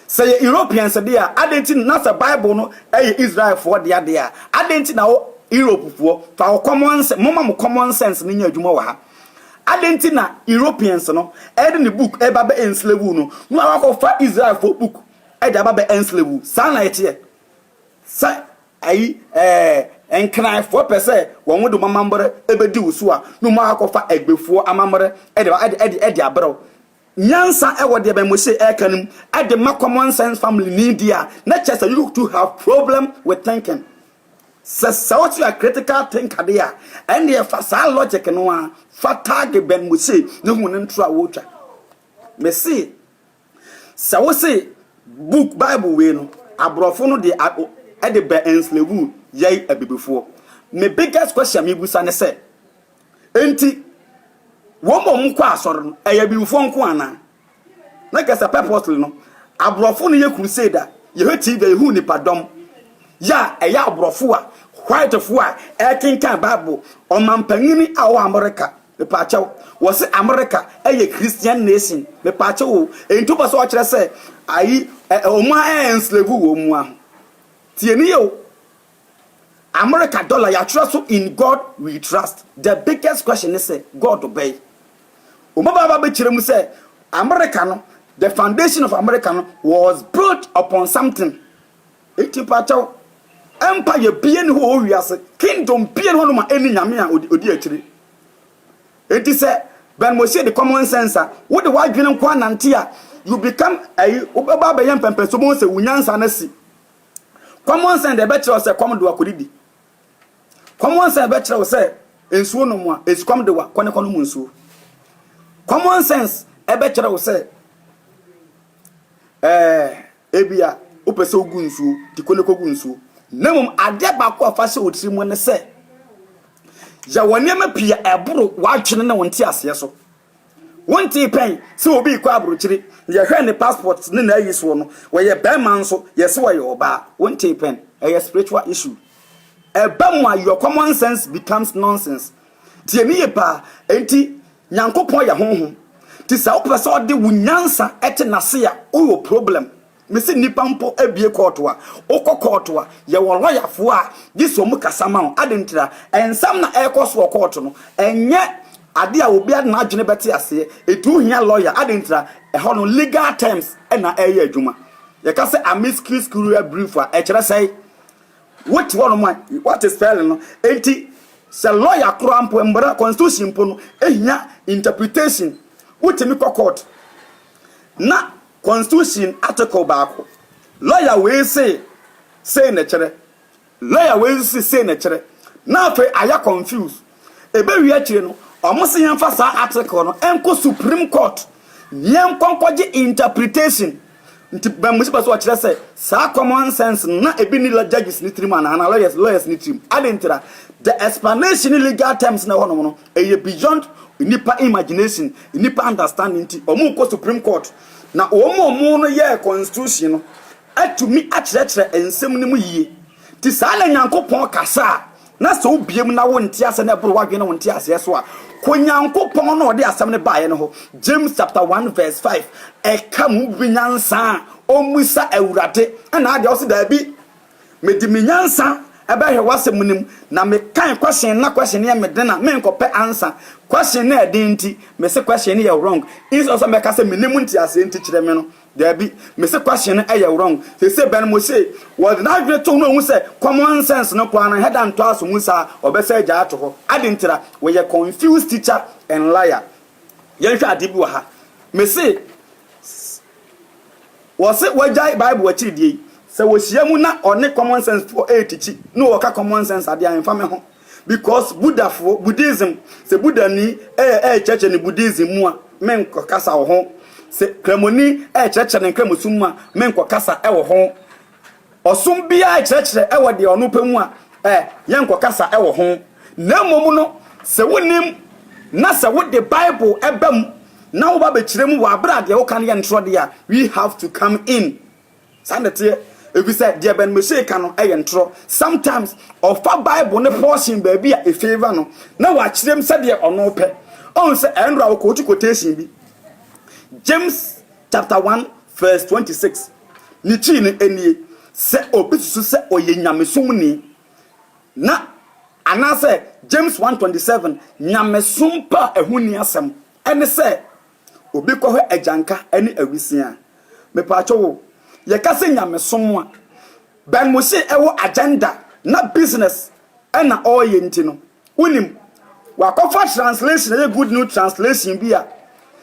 sɛ yɛ Europeans de a adɛn nti na sɛ bible no yɛ Israelfoɔ dea de a adɛn nti na wo Europefoɔ fa wo common sense momma mo common sense no nyɛ adwuma wɔ ha Adɛn nti na Europeans no ɛde ne book ɛba bɛ enslave no na wakɔfa Israel fo book ɛde aba bɛ enslave saa na ɛteɛ sɛ ayi ɛɛ nkenaefoɔ pɛ sɛ wɔn de wɔn amammerɛ ɛbɛdi wo so a na wɔn akɔfa ɛgbefoɔ amammerɛ ɛde ɛde ɛde ɛde abrɛw nyansa ɛwɔ deɛ bɛn Moshe ɛka no mu ɛde ma common sense family ni deɛ a na kyɛ sɛ you two have problem with thinking. Sɛ sɛ wo so yɛ critical thinker de a, ɛnneɛ fa saa logic no ara fa tag Ben Mosey na hu ne ntoro a ɔretwa. Mese sɛ wo se book Bible wei no, aborɔfo no de ɛde bɛ enslave yɛn abibifoɔ. Me biggest question mebusa ne sɛ, enti wɔn a wɔkɔ asɔre no, ɛyɛ abibifoɔ nko anaa? Na kasa purposely no abrɔfo no yɛ crusade a yɛhwɛ TV a yɛhu nipa dɔm yɛ a ɛyɛ abrɔfo a white fo a ɛkenkan bible ɔmampanyini a ɔwɔ America mepaakyɛw wɔse America ɛyɛ Christian nation mepaakyɛw o enti wopɛ sɛ ɔkyerɛ sɛ ayi ɔmo a ɛnslave wɔ ɔmo a tieni yɛ o Amerika dɔla, yɛatwerɛ so In God We Trust, The Biggest Question ne sɛ, God bɛn? Wɔbɛba aba abɛkyerɛ mu sɛ Amerika no, the foundation of Amerika no was built upon something. Enti mpakyɛw, empire bia nni hɔ wɔ wiase, kingdom bia nni hɔ nom a ɛnni Nyame a ɔdi akyire. Enti sɛ Ben Mosie de common sense a, wode w'adwene nko ara nante a, you become ayi, wobɛba abɛyɛ mpɛmpɛnsoɔ, wobɛhu sɛ wo nyansa no asi. Kɔmɔnsɛn deɛ ɛbɛkyerɛ wo sɛ kɔm dewa kɔdidi. Kɔmɔnsɛn bɛkyerɛ wo sɛ nsuo nom a esukɔm dewa kɔ ne kɔnom nsuo. Common sense ɛbɛkyerɛ wo sɛ ɛɛ ebia wopɛ sɛ wogu nsuo ti kɔ ne kɔgu nsuo. Na mmom adeɛ baako a fa hyɛ wo tiri mu ne sɛ yɛwɔ nneɛma pii a ɛboro w'adwene ne wo nteaseɛ so. Wontee pɛn sɛ obi rekɔ abrokyire, yɛhwɛ ne passport ne n'ayi soɔ no, ɔyɛ barima nso yɛse ɔyɛ ɔbaa, wontee pɛn? Ɛyɛ spiritual issue. Ɛba mu a your common sense becomes nonsense. Tie me yie paa, enti Nyankopɔn yɛ Honhom, nti sɛ wopɛ sɛ ɔde wo nyansa te n'ase a, wowɔ problem. Me se nipa mpo abie kɔɔto a, wokɔ kɔɔto a, yɛwɔ lɔyafoɔ a gye sɛ wɔn kasa ma wo. Adɛn ntira? Nsɛm na ɛrekɔ so wɔ kɔɔto no, ɛnyɛ adeɛ a obiara de n'adwene bɛte aseɛ. Eti wohia lɔya. Adɛn ntira? Ɛhɔ no, legal terms na ɛreyɛ adwuma. Yɛka sɛ amicus curiae brief a, ɛkyerɛ sɛe? Wote hɔ nom a, woate spelling no. Enti, sɛ lɔya koraa mpo, mmara, constitution mpo no, hia interpretation. Wotumi kɔ kɔɔto na. Constitution Article baako. Lawyer wei se sei na ɛkyerɛ, lawyer wei nso se sei na ɛkyerɛ, na afei ayɛ confused. Ɛbɛwie akyire no, wɔse yɛmfa saa article no nkɔ Supreme Court na yɛnkɔ nkɔgye interpretation. Nti memu sɛ pɛ sɛ wɔkyerɛ sɛ saa common sense no na ebi nni judges no tirim anaa, anaa lawyers, lawyers no tirim. Adɛn ntira? The explanation ne legal terms no a ɛwɔ hɔnom no, Ɛyɛ beyond nnipa imagination, nnipa understanding nti wɔn rekɔ supreme court na wɔn a wɔn no yɛɛ constitution no atumi akyerɛkyerɛ nsɛm no mu yie. Nti saa na Nyankopɔn kasa a na sɛ wo bie mu na wo nte aseɛ na ɛboro w'adwene ne wo nte aseɛ so a, kɔ Nyankopɔn na ɔde asɛm no baeɛ no hɔ. James chapter 1 verse 5 ɛka mu wobɛnya nsa a ɔmmisa Awurade ɛna adeɛ ɔse daabi. Mede me nyansa bɛhwɛ w'asɛm no mu, na mekan question na question no yɛ me den a, menkɔpɛ answer. Question no yɛ den nti, mese question no yɛ wrong. Instead of sɛ mɛka sɛ mennim wo nteaseɛ nti kyerɛ me no, daabi, mese question no yɛ wrong. Seesei Ben Moshe, wɔde n'adwene to ho na ɔhu sɛ common sense no koraa no ɛhɛ da ntɔ aso mu saa a, ɔbɛsan agyae ato hɔ. Ade ntira? Wɔyɛ confused teacher and liar. Yɛnhwɛ adeɛ bi wɔ ha. Mese. S, Wɔse wagyae Bible akyiridie yi. Sɛ wɔhyia mu na ɔne common sense foɔ retikyi na ɔɔka common sense adeɛ a ɛmfa me ho because Buddha foɔ, Buddhism, sɛ Buddhani rekyerɛkyerɛ ne Buddhism mu a menkɔkasa wɔ ho. Sɛ Kramoni rekyerɛkyerɛ ne Nkramosom mu a menkɔkasa wɔ ho. Ɔsom biara nkyerɛkyerɛ wɔ deɛ ɔno pɛ mu a yɛnkɔ kasa wɔ ho. Na mmom no, sɛ wonim na sɛ wode Bible ba mu na woba bɛkyerɛ mu wɔ aberɛ a deɛ woka no yɛ ntorɔ deɛ a, we have to come in. Saa na ɛteɛ. Ɛfiri sɛ deɛ Ben Meshay ka no yɛ ntorɔ. Sometimes ɔfa Bible ne portion baabi a ɛfavour no na wakyerɛ mu sɛdeɛ ɔno pɛ. Ɔhu sɛ ɛyɛ ntorɔ a ɔkɔɔtu quotation bi. James chapter 1 verse 26. Ne kyiri no nie, sɛ obi susu sɛ ɔyɛ nyamesom ni, na anaasɛ James 1:27 nyamesom pɛ a ɛho nni asɛm ne sɛ obi kɔhwɛ agyanka ne awisia a. Mepaakyɛw o, yɛka sɛ nyamesom a, Bɛn mo se ɛwɔ agenda na business na ɔɔyɛ nti no wonim wakɔfa translation ɛyɛ good new translation bi a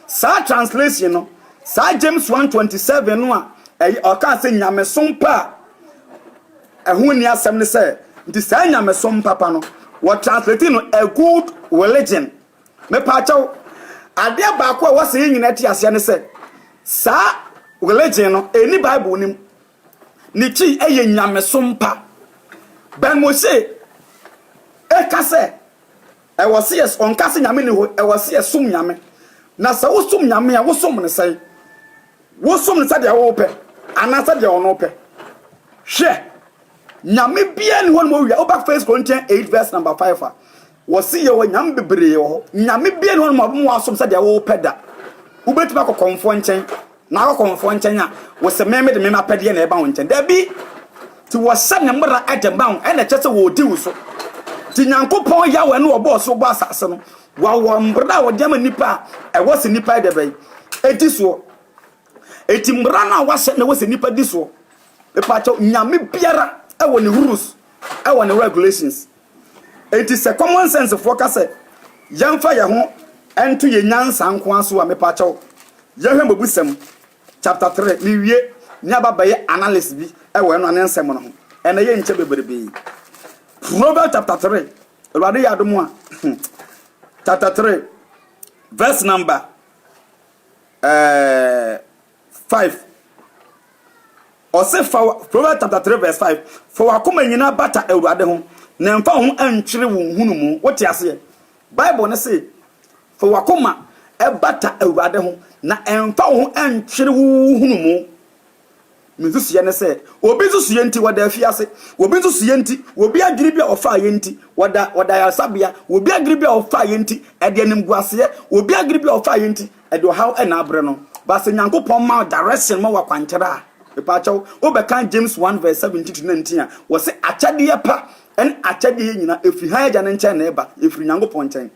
saa translation no saa James 1:27 no a ɛyɛ ɔkaa sɛ nyamesom pa a ɛho nni asɛm ne sɛ nti saa nyamesom papa no wɔ translate no a good religion mepaakyɛw adeɛ baako a wɔsɛ yɛ nyina ti aseɛ ne sɛ saa religion no ɛni Bible nim Ne ti yɛ nyamesom pa. Ben Moshe ka sɛ, Ɛwɔ sɛ yɛ, ɔnka sɛ Nyame nni hɔ, ɛwɔ sɛ yɛsom Nyame. Na sɛ wosom Nyame a, wosom no sɛn? Wosom no sɛdeɛ wopɛ anaa sɛdeɛ ɔno pɛ? Hwɛ, Nyame biara nni hɔ nom owia. Woba First Corinthians 8 verse number 5 a, Wɔse yɛwɔ nyame bebree wɔ hɔ. Nyame biaa ni hɔ nom a ɔbɛma woasom sɛdeɛ wopɛ da. Wobɛtumi akɔ kɔmfoɔ nkyɛn, na akɔ kɔmfoɔ nkyɛn a, wose me mede me m'apɛdeɛ na ɛba wo nkyɛn. Dabi! Nti wɔhyɛ ne mmara de ma wo, ɛna ɛkyerɛ sɛ wɔredi wo so. Nti Nyankopɔn Yahweh no a ɔbɔɔ soro bɔɔ asase no, wawɔ mmara a ɔde ama nnipa a ɛwɔ sɛ nnipa yɛdɛ bɛn? Ɛdi soɔ. Nti mmara no a wahyɛ na ɛwɔ sɛ nnipa di soɔ. Mepakyɛw, nyame biara ɛwɔ ne rules, ɛwɔ ne regulations. Enti sɛ common sense foɔ ka sɛ yɛmfa yɛn ho nto yɛn nyansa nko ara so a, mepakyɛw, yɛhwɛ Mmebusɛm chapter three, mewie ne aba bɛyɛ analysis bi wɔ ɛno ano nsɛm no ho. Ɛnna ɛyɛ nkyɛ bebrebe. Proverbs chapter three, Awurade yɛ adom a, chapter three, verse number, ɛɛ. Eh, 5 Ɔse fa wa Proverbs chapter 3 verse 5 Fa w'akoma nyinaa bata Awurade ho na mfa wo ho ntwere wo nhunumu. Wote aseɛ? Bible no se fa w'akoma bata Awurade ho na mfa wo ho ntwere wo nhunumu. Me nsusuiɛ ne sɛ obi nsusuiɛ nti wɔda afiase, obi nsusuiɛ nti, obi adwene bi a ɔfaeɛ nti wɔda wɔda ayaresabea, obi adwene bi a ɔfaeɛ nti ɛde animguaseɛ, obi adwene bi a ɔfaeɛ nti Ɛde ɔhaw na abrɛ no. But sɛ Nyankopɔn ma wo direction ma wo akwankyerɛ a, mepaakyɛw, wobɛkan James one verse seventeen to nineteen a, wɔse akyɛdeɛ pa ne akyɛdeɛ nyina ɛfiri hann Agya no nkyɛn na ɛba, ɛfiri Nyankopɔn nkyɛn.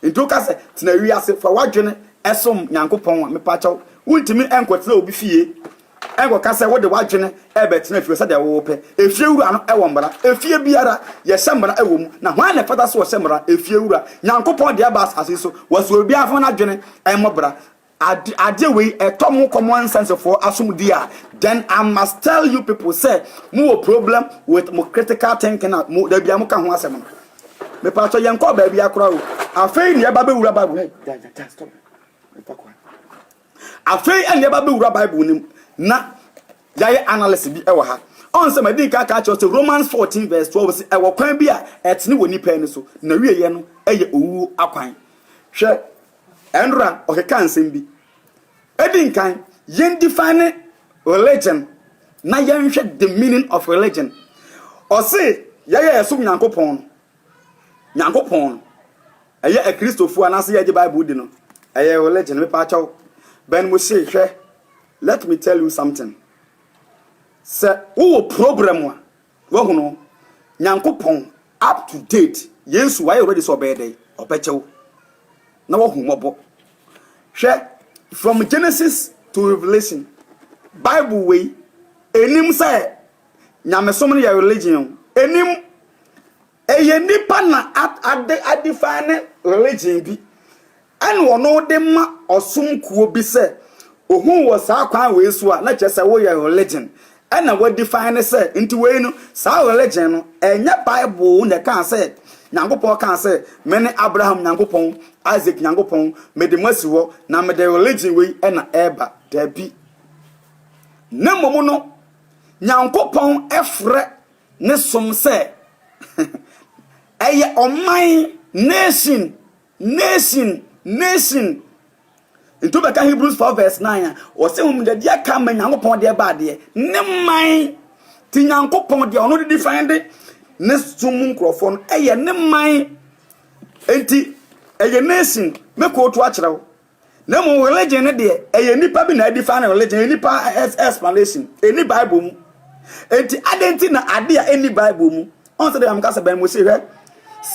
Nti woka sɛ tena wiase, fa w'adwene som Nyankopɔn a, mepaakyɛw, wontumi nkɔtena obi fie. Ɛnkɔka sɛ wode w'adwene rebɛtena fie sɛdeɛ wopɛ. Efiewura no wɔ mmara. Efie biara, yɛhyɛ mmara wɔ mu. Na hwan na ɛfata sɛ ɔhyɛ mmara? Efiewura. Nyankopɔn de aba asase yi so. Wɔsɛ obiara ho n'adwene mmɔ bra. Ade, adeɛ wei, ɛtɔ mo common nsensefoɔ asom di a, then I must tell you people sɛ mo wɔ problem with mo critical thinking a mo, da biara moka ho asɛm no. Mepatɔ, yɛnkɔɔ baabiara koraa o. Afei na yɛba bɛwura Bible mu. Hey, yeah, yeah, yeah, stop. Mefa kwan. Afei na yɛba bɛwura Bible no mu na yɛayɛ analysis bi wɔ ha. Ɔn sɛ madi nka aka akyerɛ sɛ Romans 14 vs 12 se ɛwɔ kwan bi a ɛtene wɔ nnipa ani so, na wieɛ no yɛ owuo akwan. Hwɛ Enra ɔkekaa nsɛm bi. Ɛdi nkan, yɛn define religion na yɛnhwɛ the meaning of religion. Ɔse yɛyɛ yɛsom Nyankopɔn no, Nyankopɔn no. Ɛyɛ akristofoɔ anaasɛ yɛgye bible di no ɛyɛ religion mepaakyɛw Ben Mushie hwɛ let me tell you something sɛ wowɔ problem a wahunu Nyankopɔn up to date Yesu wayɛ already sɛ ɔbɛyɛ dɛn ɔbɛkyɛw na wahu mɔbɔ hwɛ from Genesis to Revelation bible wei enim sɛ Nyamesom no yɛ religion enim Ɛyɛ nnipa na ade a define religion bi ɛna ɔno de ma ɔsom kuo bi sɛ ohuu wɔ saa kwan wei so a na kyerɛ sɛ woyɛ religion ɛna wa define sɛ nti wei no saa religion no ɛnyɛ bible na ɛkaa sɛ Nyankopɔn kaa sɛ mene Abraham Nyankopɔn Isaac Nyankopɔn mede mo asi hɔ na mede religion wei ɛna ɛba daabi na mmom no Nyankopɔn ɛfrɛ ne som sɛ ɛyɛ ɔman, nation, nation, nation. Nti wobɛka Hebrews 4 verse 9 a, ɔse hom dɛ deɛ aka ama Nyankopɔn deɛ ba adeɛ, ne man. Nti Nyankopɔn deɛ ɔno de define de ne som mu nkorɔfoɔ no ɛyɛ ne man. Nti ɛyɛ nation, mɛkootu akyerɛ wo. Na mmom religion no deɛ ɛyɛ nipa bi na ɛdi fa ne religion ɛyɛ nipa explanation ɛni bible mu enti adan ti na ade a ɛni bible mu ɔn sɛ deɛ meka sɛ bɛn mo se hwɛ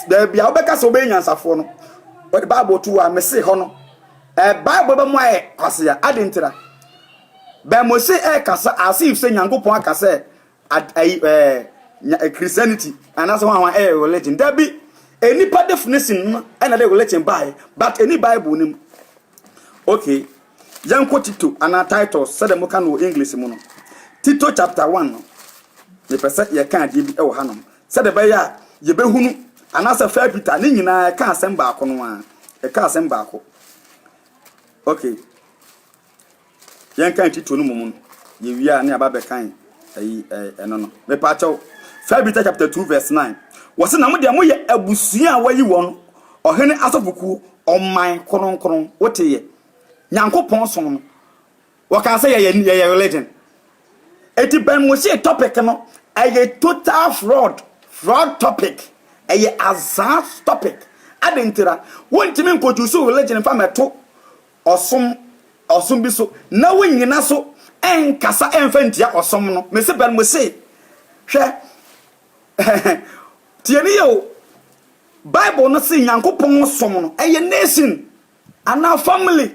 baabi a wobɛka sɛ wobɛyɛ nyansafoɔ no wɔde bible to hɔ a mese hɔ no ɛɛ eh, bible bɛmo ayɛ kwasea ade ntira bɛn mo se ɛkasa as if sɛ nyankopɔn akasa ad, ayi, ɛɛ, Christianity, anaasɛ wɔn a wɔn ɛyɛ religion. Dabi, nnipa definition no ɛna de religion baeɛ, but ɛni Bible no mu. Okay, yɛnkɔ Tito anaa Titus, sɛdeɛ moka no wɔ English mu no. Tito chapter 1 no, mepɛ sɛ yɛka adeɛ bi wɔ hanom, sɛdeɛ ɛbɛyɛ a yɛbɛhunu, anaasɛ First Peter, ne nyinaa ɛka asɛm baako no ara, ɛka asɛm baako. Okay. Yɛnkan Tito no mmom no, yewie a ne yɛaba abɛkan ayi ɛno no. Mepa kyɛw. First Peter chapter 2 verse 9. Wɔse na mo deɛ moyɛ abusua a wɔayi wɔn, ɔhene asɔfokuo, ɔman kronkron. Woteeɛ? Nyankopɔn som no. Wɔkaa sɛ yɛyɛ yɛyɛ religion. Eti bɛn mo hyee topic no ɛyɛ total fraud, fraud topic. Ɛyɛ azaa topic. Adentira, wontumi nkɔchusu religion mfa mɛto ɔsom, ɔsom bi so, na wo nyina so nkasa mfa ntia ɔsom no. Mese bɛn? Mese, hwɛ, tie ne yie o, Bible no se Nyankopɔn som no, ɛyɛ nation anaa family.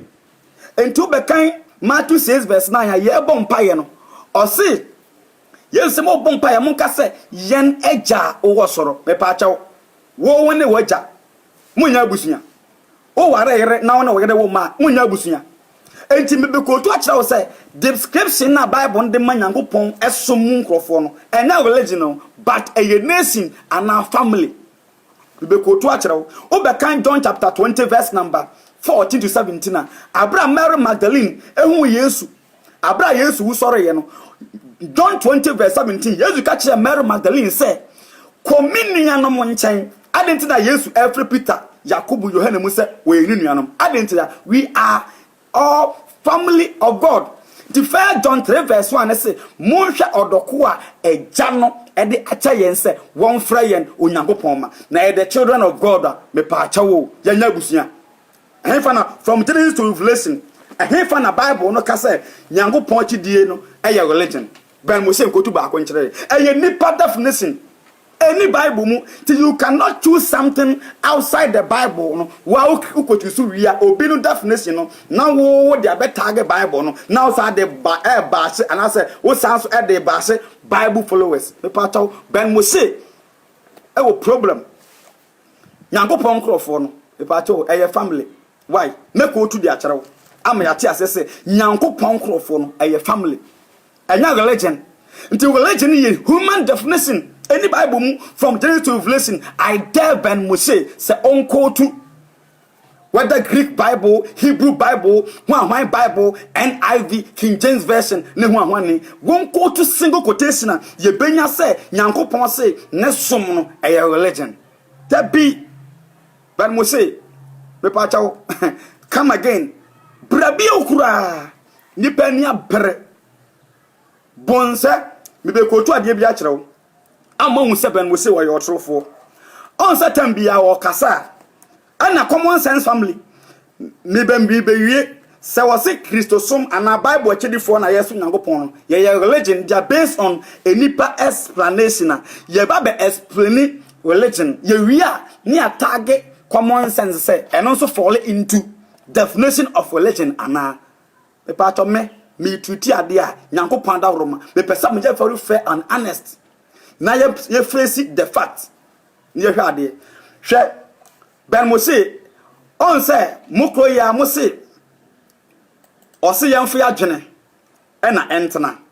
Nti wobɛkan Matthew 6 verse 9 a, yɛbɔ mpaeɛ no, ɔse, Yesu se mobɔ mpaeɛ monka sɛ, Yɛn Agya a wowɔ soro, mepaakyɛw, wo ne w'agya monyɛ abusua. Woware yere na wo ne wo yere wo mma a, monnyɛ abusua. Enti mebɛkootu akyerɛ wo sɛ, description a Bible no de ma Nyankopɔn som mu nkorɔfoɔ no, ɛnyɛ religion o, but ɛyɛ nation anaa family. Mebɛkootu akyerɛ wo. Wobɛkan John chapter twenty verse number fourteen to seventeen a, aberɛ a Mary Magdalene huu Yesu, Bere a Yesu wusɔreeɛ no, John 20 verse 17, Yesu ka kyerɛɛ Mary Magdalene sɛ, Kɔ me nuanom nkyɛn. Adɛn nti na Yesu refrɛ Peter, Yakobo, Yohane mu sɛ wɔyɛ ne nuanom? Adɛn nti na? We are all family of God. Nti 1 John 3 verse 1 no se, Monhwɛ ɔdɔ ko a Agya no de akyɛ yɛn sɛ wɔmfrɛ yɛn Onyankopɔn mma. Na yɛyɛ the children of God a, mepaakyɛw o, yɛnyɛ abusua. Ɛhefa na From Genesis to Revelation, Ɛhefa na Bible no ka sɛ Nyankopɔn akyidie no yɛ religion? Bɛn mo sɛ nkotu baako nkyerɛ yɛn. Ɛyɛ nnipa definition. Ɛnni Bible mu. Nti you cannot choose something outside the Bible no wo a wokɔ choose wie a obi no definition no na wo wode abɛ tag Bible no na wo saa de ba ɛɛbaahye anaasɛ wo saa nso ɛde baahye Bible followers. Mepaakyɛw, Bɛn mo se ɛwɔ problem. Nyankopɔn nkorɔfoɔ no, mepakyɛw, ɛyɛ family, wai, mɛkootu de akyerɛ wo ama yɛate aseɛ sɛ, Nyankopɔn nkorɔfoɔ no, ɛyɛ family, ɛnyɛ religion, nti religion no yɛ human definition, ɛnni Bible mu, from Genesis to Revelation, I dare Ben Moshe sɛ ɔnkootu Whether Greek Bible, Hebrew Bible, Huahuan Bible, NIV, King James Version, ne Huahuani, wonkootu single quotation a, yebenya sɛ Nyankopɔn se ne som no yɛ religion. Dabi! But mo se, Mepaakyɛw, come again, bra bio koraa. Nnipa ani abere. Bonsɛ, mebekootu adeɛ bi akyerɛ wo. a moahu sɛ Ben Mose ɔyɛ ɔtorofoɔ. Ɔn sɛ tam biara ɔkasa a ɛna common sense family me bɛ me bɛwie sɛ wɔse Kristosom anaa Bible akyɛdifoɔ na yɛsom Nyankopɔn no yɛyɛ religion gya based on enipa explanation a yɛba bɛ explaini religion yɛwie a ne yɛataage common sense sɛ ɛno nso fall into definition of religion anaa Mepaatɔ me me treat adeɛ a nyankopɔn adaworo ma me pɛ sɛ mo yɛ very fair and honest na yɛ yɛ face the fact na yɛ hwɛ adeɛ hwɛ bɛn mo se ɔn sɛ mo koro yɛ a mo se ɔse yɛn fo yɛ adwene ɛna ɛntena.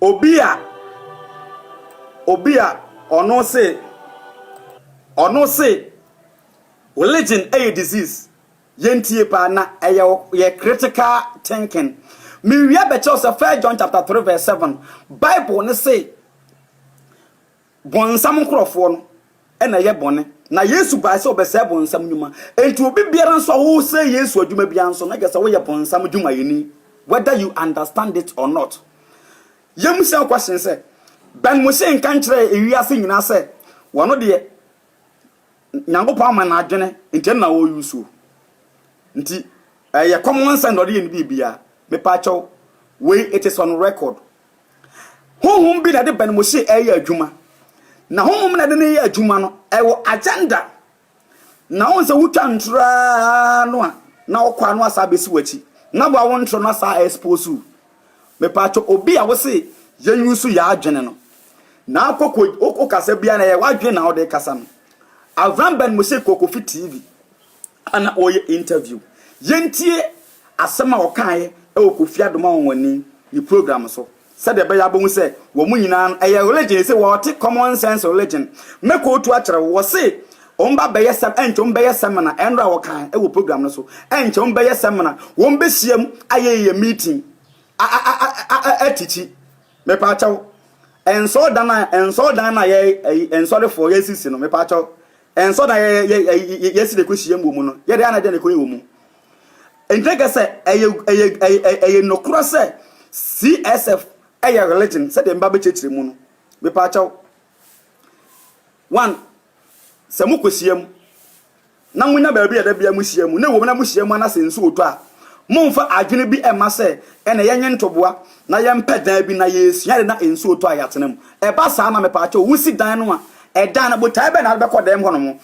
Obi a Obi a ɔno se ɔno se religion yɛ disease yɛntie paa na ɛyɛ yɛ critical thinking mewia bɛkyɛw sɛ first John chapter 3 verse 7 bible ne se Bonsam nkorɔfoɔ no na ɛyɛ bɔne, na Yesu baae sɛ ɔbɛsɛe bonsam nnwuma. Enti obi biara nso a wosɛe Yesu adwuma biara nso na kyerɛsɛ woyɛ bonsam dwumayɛni whether you understand it or not. Yɛmmisa wo question sɛ, Ben Moshe nka nkyerɛɛ ewiase nyinaa sɛ ɔno deɛ Nyankopɔn ama no adwene nti ɛno na ɔuse o. Nti ɛyɛ common sense na ɔde yɛ ne biribiara. Mepaakyɛw wei it is on record. Honhom bi na ɛde bɛn mo se ɛreyɛ adwuma. Na honhom na ɛde no yɛ adwuma no, ɛwɔ agenda. Na wohu sɛ wotwa ntoro ara no a, na ɔkɔ ano asa abɛsi w'akyi. Na boa wo ntoro no asa a expose wo. Mepatwɔ obi a wose yɛn use yɛ adwene no. Na akɔkɔ wokasa biara na ɛyɛ w'adwene na wode kasa no. Avram bɛn mo se kɔkɔfi TV. a na ɔreyɛ interview. Yɛntie asɛm a ɔkaeɛ wɔ Kofi Adom Anwanwani ne program so sɛdeɛ ɛbɛyɛ a wobɛhu sɛ wɔn nyinaa no ɛyɛ religion ɛsɛ wɔte common sense religion. Mɛkootu akyerɛ wo, wɔse wɔn ba bɛyɛ sɛm ɛnkyɛ wɔn bɛyɛ sɛmina ɛnora a wɔkae wɔ program no so ɛnkyɛ wɔn bɛyɛ sɛmina wɔn bɛhyiam ayɛ yɛ meeting a a a a a atikyi mepaakyɛw nsɔrdan a nsɔrdan no a yɛ ɛyi nsɔrefoɔ yɛsisi no mepaakyɛw Ɛnsɔ na yɛsi de kɔhyiam wɔ mu no, yɛde ana dɛn na ɛkɔyɛ wɔ mu? Enti na sɛ ɛyɛ nokorɛ sɛ CSF yɛ religion sɛdeɛ meba bɛkyerɛkyerɛ mu no, mepaakyɛw. One, sɛ mokɔhyiam na monya baabi a da bia mohyia mu, na ɛwɔ mu na mohyia mu ana sɛ nsuo tɔ a, momfa adwene bi mma sɛ ɛnɛ yɛnye ntoboa na yɛmpɛ dan bi na yɛsua ade na nsuo tɔ a yɛatena mu. Ɛba saa na mepaakyɛw wosi dan no a, Ɛda no, botae bɛn na wode bɛkɔ dan mu hɔnom?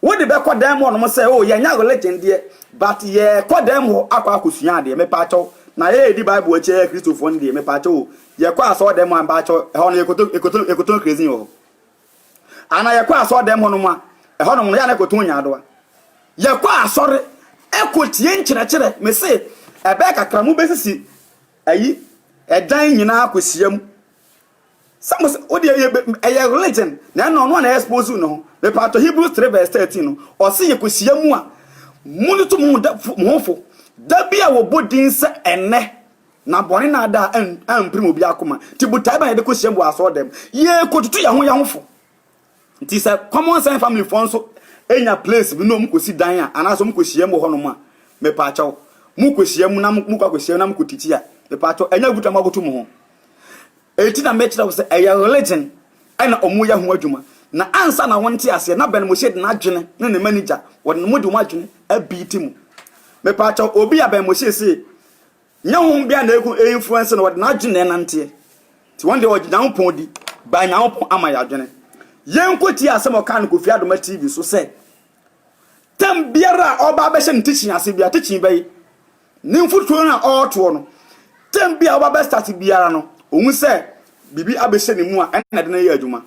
Wode bɛkɔ dan mu hɔnom sɛ, oh, yɛnyɛ religion deɛ, but yɛkɔ dan mu hɔ akɔ akɔsua adeɛ, mepaakyɛw, na yɛredi Bible akyi yɛyɛ Kristofoɔ no deɛ, mepaakyɛw o, yɛkɔ asɔɔdan mu a, mepaakyɛw, ɛhɔ no yɛkɔtɔ, yɛkɔtɔ, yɛkɔtɔ krezin wɔ hɔ. Anaa yɛkɔ asɔɔdan mu hɔnom a, ɛhɔnom no yɛ a na yɛkɔtɔ nyaadoa. Yɛkɔ asɔre, ɛkɔtie nkyerɛkyerɛ, mese, ɛbɛyɛ kakra mobɛsisi ayi, ɛdan nyinaa akɔsiam, Sɛ mo sɛ, wodeɛ yɛ bɛ, ɛyɛ religion, na ɛna ɔno a na ɛyɛ expose ne ho. Mepatɔ Hebrews 3 verse 13 no, ɔse yɛ kɔ hyia mu a, mo no to mo ho da, mo ho fo, da bi a wɔ bɔ din sɛ ɛnɛ, na bɔne na ada a ɛn, ɛn mprim obi akoma, nti botae bɛn na yɛde kɔ hyia mu wɔ asɔɔdɛm, yɛ kɔ tutu yɛ ho yɛ ho fo. Nti sɛ common sense family foɔ nso nya place bi na ɔmo kɔsi dan a anaasɛ ɔmo kɔhyiam wɔ hɔnom a, mepaakyɛw, mo kɔhyiam na mo kɔ akɔhyiam na mo kɔ titi a, mepaakyɛw, ɛnyɛ aguta mo akoto mo ho. Enti na mɛkyerɛ wo sɛ ɛyɛ religion ɛna ɔmo yɛ ho adwuma. Na ansa na wo nte aseɛ na Ben Moshe de n'adwene ne ne manager wɔde mo de wɔn adwene abiiti mo. Mepaakyɛw, obi a Ben Moshe see Nnyɛ hom bia na eku influence no wɔdze n'adwen na ɛnantseɛ ntsi hɔn deɛ wɔgye Nyankopɔn di by Nyankopɔn ama yɛadwene yɛnkɔtie asɛm a ɔkaa no Kofi Adoma TV so sɛ term biara a ɔba abɛhyɛ ne teaching ase bia teaching bɛye ne mfuturo no a ɔɔtoɔ no term bi a ɔba bɛstart biara no ohu sɛ biribi abɛhyɛ ne mu a ɛna ɛde no yɛ adwuma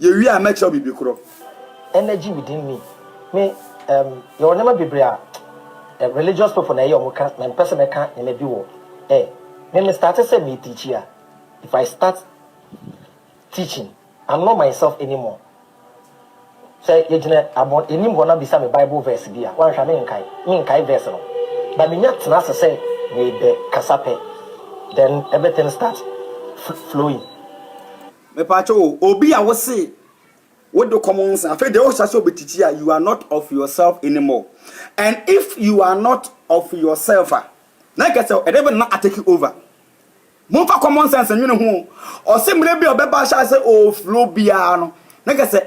Yewie a, mɛkyerɛ wo biribi koro. Energy within me me um, yɛwɔ nneɛma bebree a eh, religious people na ɛyɛ wɔn ka na mpɛ sɛ mɛka nneɛma bi wɔ eh, me me starte sɛ me teachi a if I start teaching I'm not myself anymore sɛ yɛgyina abɔ anim hɔ na bisa me bible verse bi a wanhwɛ menkae menkae verse no ba menya tena ase sɛ mebɛ kasa pɛ then everything start flowing Mepakyɛ o obi a wo se wo de common sense afei deɛ wohyɛ sɛ obɛtikyi a you are not of yourself anymore and if you are not of yourself a na nka sɛ ɛdɛ bɛ na atake over momfa common sense nwene ho ɔse mmerɛ bi a ɔbɛba ahyɛ sɛ ɔflo biara no na nka sɛ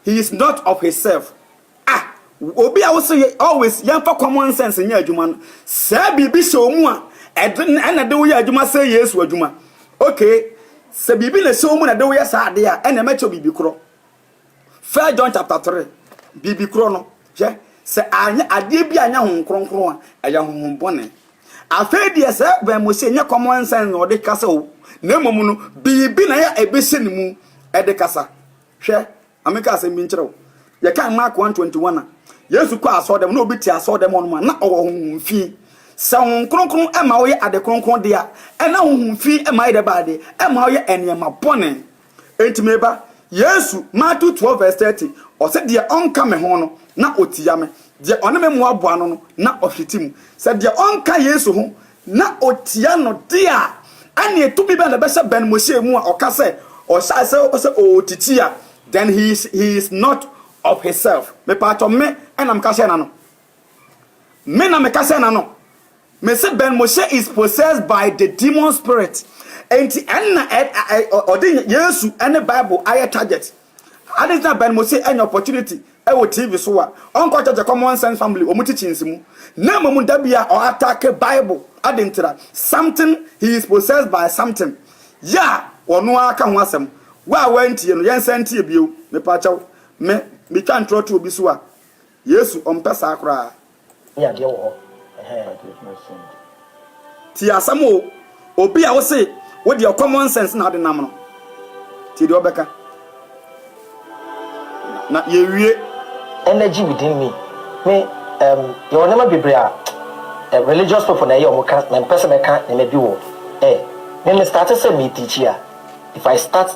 he is not of his self Ah, obi a wose yɛ always yɛmfa common sense nyɛ adwuma no, sɛ biribi hyɛ wɔn mu a, ɛde ɛna ɛde woyɛ adwuma sɛ Yesu adwuma. Okay, sɛ biribi na ɛhyɛ wɔn mu na ɛde woyɛ saa ade a, ɛna ɛmɛkyɛ biribi korɔ. First John chapter 3, biribi korɔ no, hwɛ, sɛ anyɛ adeɛ bi anyɛ ho nkronkron a, ɛyɛ honhom bɔne. Afei deɛ sɛ bɛn mo se nyɛ common sense na ɔde kasa o, na mmom no, biribi na yɛ ɛbɛhyɛ ne mu ɛde kasa. Hwɛ. Ma menka asɛm bi nkyerɛ wo. Yɛkan Mark 1:21 a, Yesu kɔɔ asɔɔdɛm na obi te asɔɔdɛm hɔ nom a, na ɔwɔ honhom fi. Sɛ honhom kronkron ma woyɛ ade kronkron de a, ɛna honhom fi ma ayɛ dɛ baa de, ɛmma woyɛ nneɛma bɔne. Enti me ba, Yesu, Matthew 12 vs 30, ɔse deɛ ɔnka me ho no, na ɔtia me. Deɛ ɔne me mmoaboa ano no, na ɔhwete mu. Sɛ deɛ ɔnka Yesu ho na otia no de a, ɛnneɛ tumi bɛn na ɛbɛhyɛ Ben Moshe mu a ɔka sɛ ɔhyɛɛ sɛ ɔpɛ sɛ ɔtiti a, then he is, he is not of his self. Mepaakyɛw, me na meka hyɛɛ n'ano. Me na meka hyɛɛ n'ano. Me se Ben Moshe is possessed by the demon spirit. Enti ɛnna ɔde Yesu ne Bible ayɛ target. Adi nti na Ben Mossie anya opportunity wɔ TV so a ɔnkɔ church Common Sense Family wɔn teachings mu na mmom da biara ɔ attack Bible adi nti na something he is possessed by something yɛ a ɔno ara ka ho asɛm wo a wantie no yɛn san ntie bio mepa kyɛw me me twa ntorɔ to obi so a Yesu ɔmpɛ saa koraa. ne adeɛ wɔ hɔ ɛhɛɛ. Tie asɛm o, obi a wose wo deɛ common sense na wode nam no, tie deɛ ɔbɛka na yɛwie. Energy within me, me um, yɛwɔ nneɛma bebree a eh, religious people na ɛyɛ wɔn ka, mɛmpɛ sɛ mɛka nneɛma bi wɔ eh, me me starte sɛ me teachi a, if I start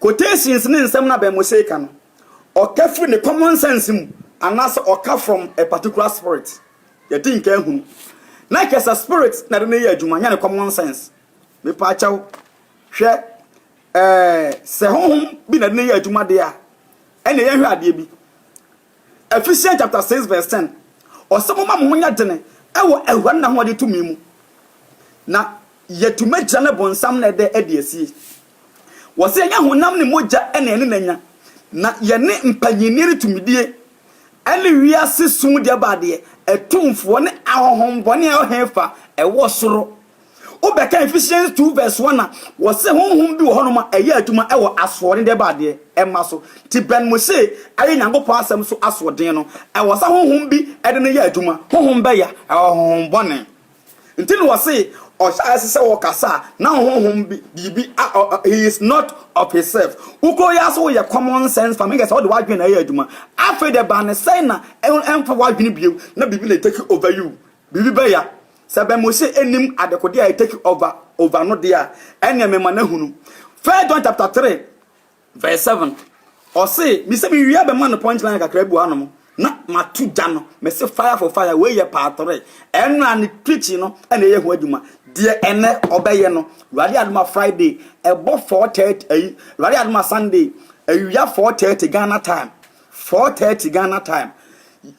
Quotations ne nsɛm no abɛn mo seeka no, ɔka firi ne common sense mu anaasɛ ɔka from a particular spirit. Yɛdi nkan hu no. Na kyerɛ sɛ spirit na ɛde no yɛ adwuma, nyɛ ne common sense. Mepaakyɛw, hwɛ, ɛɛ, sɛ honhom bi na ɛde no yɛ adwuma deɛ a, ɛnneɛ yɛnhwɛ adeɛ bi. Ephesians chapter 6 verse 10, Ɔsɛ moma mo ho nyɛ dene wɔ Awurade ne n'ahoɔden tumi mu, na yɛatumi agyina ne bonsam na ɛdɛ adi asie. Wɔsɛ yɛnyɛ honam ne mogya na yɛne no anya, na yɛne mpanyinnie ne tumidie ne wiase sum deɛ baadeɛ atumfoɔ ne ahonhommɔne a ɛwɔ hefa ɛwɔ soro. Wobɛka Ephesians 2 verse 1 a, wɔse honhom bi wɔ hɔnom a ɛyɛ adwuma wɔ asoɔden dɛ ba adeɛ ɛma so. Nti bɛn mo se ɛyɛ Nyankopɔn asɛm so asoɔden no, ɛwɔ sɛ honhom bi de no yɛ adwuma. Honhom bɛya, ɛwɔ honhom bɔne. Nti na wɔse ɔhyɛ a ɛse sɛ wɔkasa a na honhom bi, biribi a ɔ, he is not of his self. Wokuro yi ara so woyɛ common sense farming kɛse a wode w'adwene na ɛyɛ adwuma. Afei dɛ ba ne sɛn na ɛmfa w'adwene bio na biribi na take over you Biribi bɛya. Sɛ Ben Moshe nnim adekode a ɛtake over over no deɛ a, ɛnneɛ mema no ahunu. First John chapter three verse seven, ɔse, Mise mewie a bɛma no punch line kakra bi wɔ hanom na mato gya no. Mese fire for fire, wei yɛ part three. Ɛno a ne preaching no na ɛyɛ ho adwuma. Deɛ ɛnnɛ ɔbɛyɛ no, Awurade adom a Friday, ɛbɔ four thirty, ayi, Awurade adom a Sunday, awia four thirty Ghana time. Four thirty Ghana time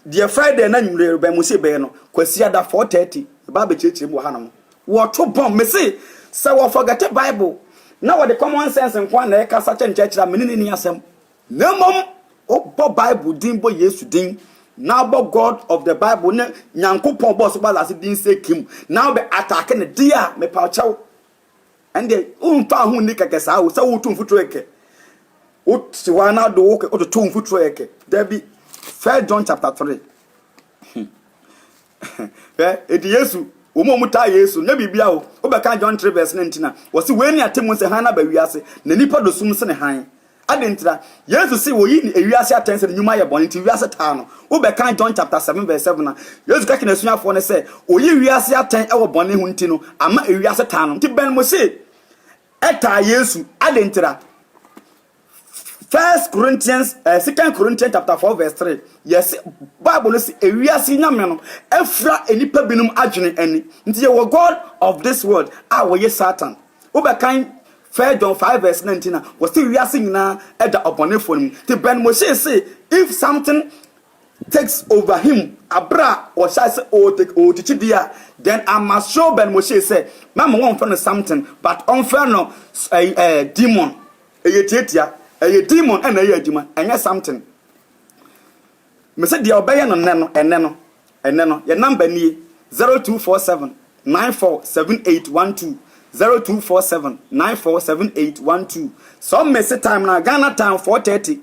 deɛ Friday na nwumire rebɛn mo se bɛyɛ no Kwasiada four thirty ɛba abɛkyerɛkyerɛ mu wɔ hanom. Wɔto bɔm me se sɛ wɔ forgete Bible na wɔde common sense nko ara na ɛkasa kyɛ nkyerɛkyerɛ a me ne no nni asɛm. Na mmom wobɔ Bible din bɔ Yesu din na wobɔ God of the Bible ne Nyankopɔn a ɔbɔɔ soro baa asase din sɛ Kim na wobɛ attack no deɛ a mepaw kyɛw. Ɛnde womfa ho nni kɛkɛ saa o, sɛ woretu mfuturo kɛkɛ, wote hɔ ara na wode wo wototo wo mfuturo kɛkɛ. Dabi. First John chapter 3. Hwɛ, enti Yesu, wɔn a wɔtaa Yesu, nyɛ biribia o, wobɛka John 3 verse 19 a, wɔse, Wei ne atemmu sɛ hann aba wiase, na nnipa dɔ sum sene hann, Adɛn nti na? Yesu se wɔyi ne ewiase atɛnse no nwuma yɛ bɔne nti wiase taa no. Wo bɛ kan John chapter 7 verse 7 a, Yesu ka kye n'asuafoɔ no sɛ oyi wiase atɛn wɔ bɔne ho nti no ama ewiase taa no. Nti bɛn mo se ɛtaa Yesu? Adɛn nti na? First Corinthians, eh, Second Corinthians chapter 4 verse 3, yɛ se Bible no se ewiase nyame no afira nnipa binom adwene ani. Nti yɛwɔ God of this world a wɔye Satan. Wobɛkan First John five verse nineteen a, wɔse wiase nyinaa da ɔbɔnefoɔ no mu. Nti Ben Moshe se if something takes over him aberɛ a wɔhyɛ ase ɔɔtikyi deɛ a, then I must show Ben Moshe sɛ mɛma wɔnfrɛ no something but ɔnfrɛ no demon. Ɛyɛ tiatia. Ɛyɛ demon na ɛyɛ adwuma, ɛnyɛ something. Me se deɛ ɔbɛyɛ no nnɛ no, ɛnnɛ no, ɛnnɛ no, yɛn number nie, zero two four seven nine four seven eight one two, zero two four seven nine four seven eight one two, sɛ ɔmmese time no a, Ghana time four thirty,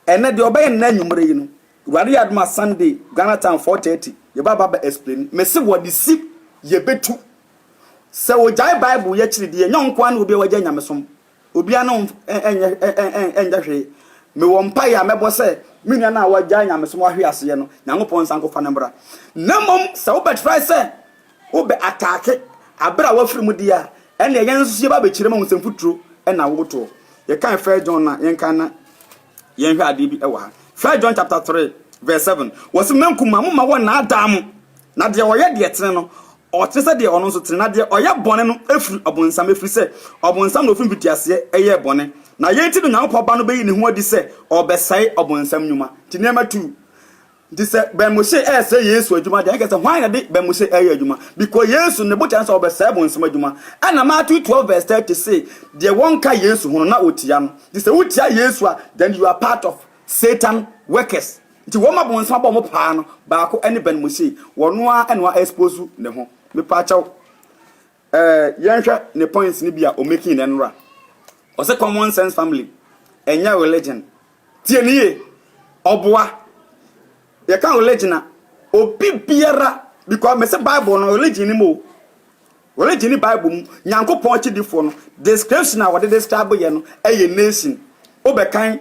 ɛnnɛ deɛ ɔbɛyɛ no nnɛ anwummere yi no, Awurade yɛ adom a Sunday, Ghana time four thirty, yɛba ba ba explain, me se wɔde si, yɛbɛtu, sɛ ɔgyae Bible yɛ akyiri deɛ, ɛnyɛ ɔnkoa ne obi a wagyae nyamesom. Obiara no nyɛ nyɛ hwee. Mewɔ mpaeɛ a mɛbɔ sɛ me nua no a wagyae nyamesom wahwe aseɛ no, Nyankopɔn nsa nkɔfa no mmra. Na mmom sɛ wobɛtrae sɛ wobɛ ataake aberɛ a wafiri mu deɛ a, ɛnneɛ yɛn nso so yɛba abɛkyerɛ mu ahu sɛ mfuturo na wotoɔ. Yɛkae First John no a, yɛnkan na yɛnhwɛ adeɛ bi wɔ ha. First John chapter 3 verse 7, wɔse, M'ankumaa, momma wɔnnaadaa mo, na deɛ ɔyɛ deɛ ɛtene no, Ɔte sɛ deɛ ɔno nso tene, na deɛ ɔyɛ bɔne no firi ɔbonsam, ɛfiri sɛ ɔbonsam na ɔfiri mfitiaseɛ yɛɛ bɔne, na yei nti na Onyankopɔn Ba no bɛyi ne ho adi sɛ ɔrebɛsɛe ɔbonsam nnwuma. Nti nneɛma tu. Nti sɛ Ben Moshe resɛe Yesu adwuma deɛ, ɛnka sɛ hwan na ɛde Ben Moshe reyɛ adwuma? Because Yesu ne botaeɛ ne sɛ ɔbɛsɛe ɔbonsam adwuma. Ɛna Matthew 12 vs 30 se, deɛ wɔnka Yesu ho no na ɔtia no. Nti sɛ wotia Yesu a, then you are part of Satan workers. Nti wɔma bonsam bɔ mo paa no baako ɛne Ben Mosey wɔno ara ɛna wa expose ne ho mepaakyɛw ɛɛ yɛnhwɛ ne points no bi a ɔmaking nɛ nora ɔse common sense family ɛnyɛ religion tie ne yie ɔboa yɛka religion a obi biara because mese bible no religion ni mo religion ni bible mu nyankopɔn akyidifoɔ no description a wɔde describe yɛ no ɛyɛ nation wobɛkan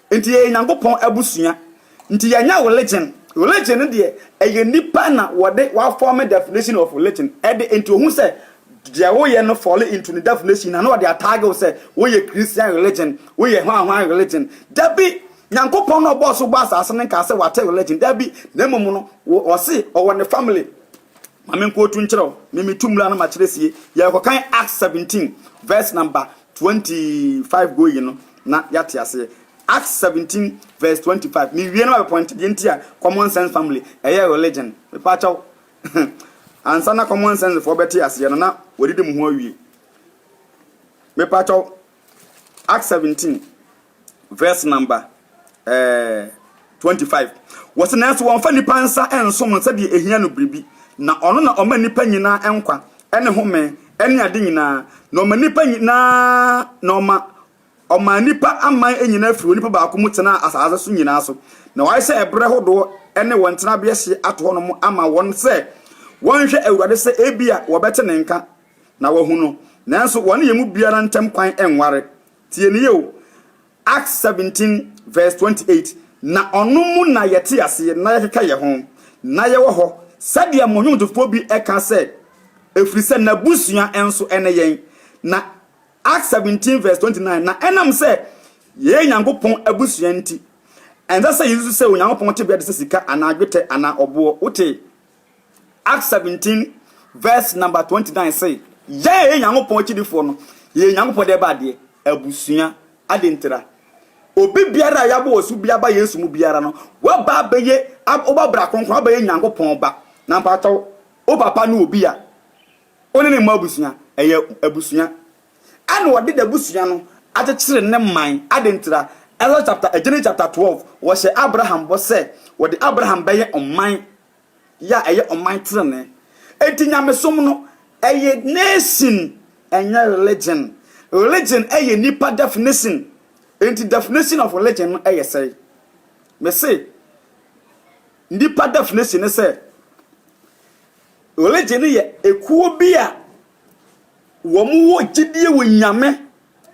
Nti yɛyɛ Nyankopɔn abusua. Nti yɛnyɛ religion. Religion no deɛ ɛyɛ nipa na wɔde wa form definition of religion ɛde nti ohun sɛ deɛ woyɛ no fall into ne definition na na ɔde atag wo sɛ woyɛ Christian religion, woyɛ hwan hwan religion. Dabi! Nyankopɔn na ɔbɔɔ so bɔɔ asase no nkaa sɛ wate religion. Dabi! Na mmom no wo ɔse ɔwɔ ne family. Ma me nkotu nkyerɛ wo, me metu mmra no makyerɛ sie. Yɛrekɔkan Acts 17 verse number Twenty five going no na yɛate aseɛ. Acts seventeen verse twenty five mewie na mabɛ point deɛ nti a common sense family ɛyɛ religion mepaakyɛw ansa na common sense foɔ bɛte aseɛ no na wɔdidi mo ho awie mepaakyɛw Acts seventeen. verse number eh, 25. Wɔsi nanso wɔmfa nipa nsa nsom no sɛdeɛ ehia no biribi, na ɔno na ɔma nipa nyinaa nkwa ne home ne ade nyinaa, na ɔma nipa nyinaa na ɔma ɔmaa nipa aman nyinaa firi onipa baako mu tenaa asase so nyinaa so, na wayɛ sɛ ɛberɛ hodoɔ ne wɔn tenabea hyeɛ ato hɔ nom ama wɔn sɛ wɔnhwɛ Awurade sɛ ebia wɔbɛte ne nka na wɔahu no, nanso wɔne yɛn mu biara ntam kwan nware. Tie no yie o, Acts seventeen verse twenty eight, Na ɔno mu na yɛte aseɛ na yɛkeka yɛn ho, na yɛwɔ hɔ, sɛdeɛ mo nnwomtofoɔ bi ka sɛ, ɛfiri sɛ n'abusua nso ne yɛn. Na Acts seventeen verse twenty nine, Na ɛnam sɛ yɛyɛ Nyankopɔn abusua nti, ɛnsɛ sɛ yɛsusu sɛ Onyankopɔn tebea te sɛ sika anaa dwetɛ anaa ɔboɔ. Wotee? Acts seventeen verse number twenty nine se, Yɛn a yɛyɛ Nyankopɔn akyidifoɔ no, yɛyɛ Nyankopɔn deɛ ɛba adeɛ, abusua. Adɛn ntira? Obi biara a yɛabɔ ɔsu bi aba Yesu mu biara no, waba abɛyɛ, wobɔ bra kronkron, wabɛyɛ Nyankopɔn ba. Na mpakyɛw, wo papa ne obi a wo ne ne mmɔ abusua, ɛyɛ abusua. Ɛna ɔde n'abusua no akyekyere ne man. Adɛn ntira? Exodus chapter, Genesis chapter twelve, wɔhyɛ Abraham bɔ sɛ wɔde Abraham bɛyɛ ɔman yɛ a ɛyɛ ɔman trenee. Enti nyamesom no ɛyɛ nation ɛnyɛ religion. Religion ɛyɛ nnipa definition. Enti definition of religion no ɛyɛ sɛe? Mese nnipa definition ne sɛ religion no yɛ ekuo bi a wɔn wɔ gyidie wɔ nyame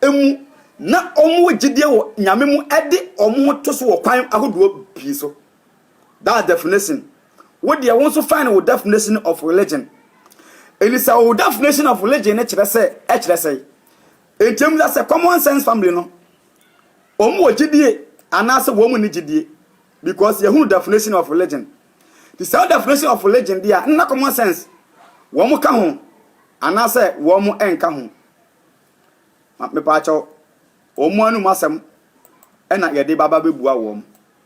emu na wɔn wɔ gyidie wɔ nyame mu ɛde wɔn ho to so wɔ kwan ahodoɔ pii so. That's definition. Wo deɛ wo nso find wo definition of religion. Ɛni sɛ wo definition of religion ne kyerɛ sɛ ɛkyerɛ sɛ. Ɛnti ɛmu sɛ common sense family no. Wɔn wɔ gyidie anaasɛ wɔn mu ni gyidie. Because yɛhunu definition of religion. Ti sɛ definition of religion deɛ nna common sense. Wɔn ka ho anaasɛ wɔn ɛnka ho. Mepaakyɛw wɔn anum asɛm ɛna yɛde baba bɛbua wɔn.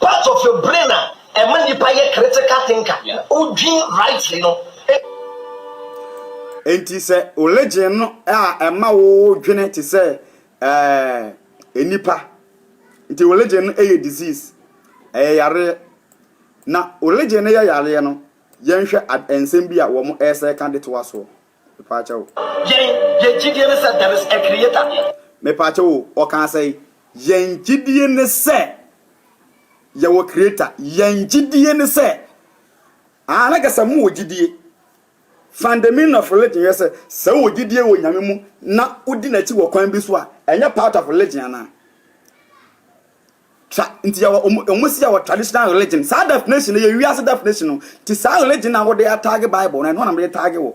Part of your brain a ɛma nipa yɛ critical thinker, odwin rightly no. Enti sɛ religion no a ɛma wo dwene te sɛ ɛɛ nipa. Nti religion no yɛ disease, ɛyɛ yareɛ. Na religion no yɛ yareɛ no, yɛnhwɛ ad nsɛm bi a wɔn ɛsɛ ka de to asoɔ. Mepaakyɛ wo. Yɛn, yɛn gyidie ne sɛ there is a creator. Mepaakyɛ wo, ɔkaa sɛn? Yɛn gyidie ne sɛ yɛwɔ creator. Yɛn gyidie ne sɛ, ah, na kɛ sɛ mo wɔ gyidie. Find the meaning of religion yɛ sɛ, sɛ wɔ gyidie wɔ Nyame mu na wodi n'akyi wɔ kwan bi so a, ɛnyɛ part of religion anaa? Twa nti yɛ wɔ ɔmo ɔmo si yɛ wɔ traditional religion saa definition yɛ wiase definition no ti saa religion na wɔde ataage bible no ɛno na wɔde taage wɔ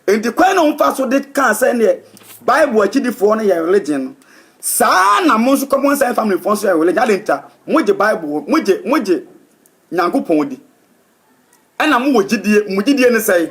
nti kwan na wɔn fa so de kaa sɛ neɛ bible akyidifoɔ no yɛ religion no saa na mo nso common sense family foɔ nso yɛ religion adan nti a mo gye bible mo gye mo gye nyankopɔn di Ɛna mo wɔ gyidie, mo gyidie ne sɛn?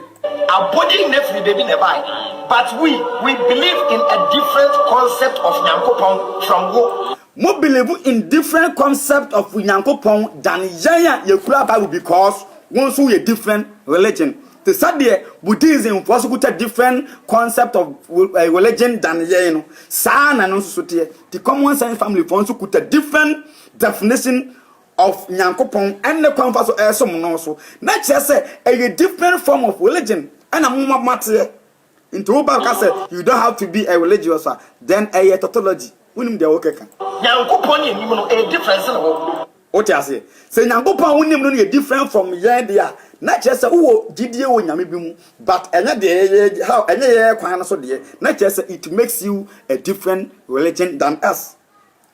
Abɔde nyina firi baabi na ɛbae but we we believe in a different concept of Nyankopɔn from wo. Mo believe in different concept of Nyankopɔn than yɛn a yɛkura Bible because wo nso woyɛ different religion te sɛ deɛ Buddhism foɔ nso kuta different concept of religion than yɛn no saa na ɛno nso so teɛ nti common sense family foɔ nso kuta different definition of Nyankopɔn ɛne kwan fa so ɛresom no so na kyerɛ sɛ ɛyɛ different form of religion ɛna moma moateɛ nti wo ba ka sɛ you don't have to be a religious a then ɛyɛ tautology wonim deɛ wo keka. Nyankopɔn ne yɛnim no ɛyɛ different sene wo. Wote aseɛ? Sɛ Nyankopɔn a wonim no no yɛ different from yɛn deɛ a na kyerɛ sɛ wowɔ gyidie wɔ Nyame bi mu but ɛnyɛ deɛ yɛyɛ how ɛnyɛ yɛyɛ kwan no so deɛ na kyerɛ sɛ it makes you a different religion than us.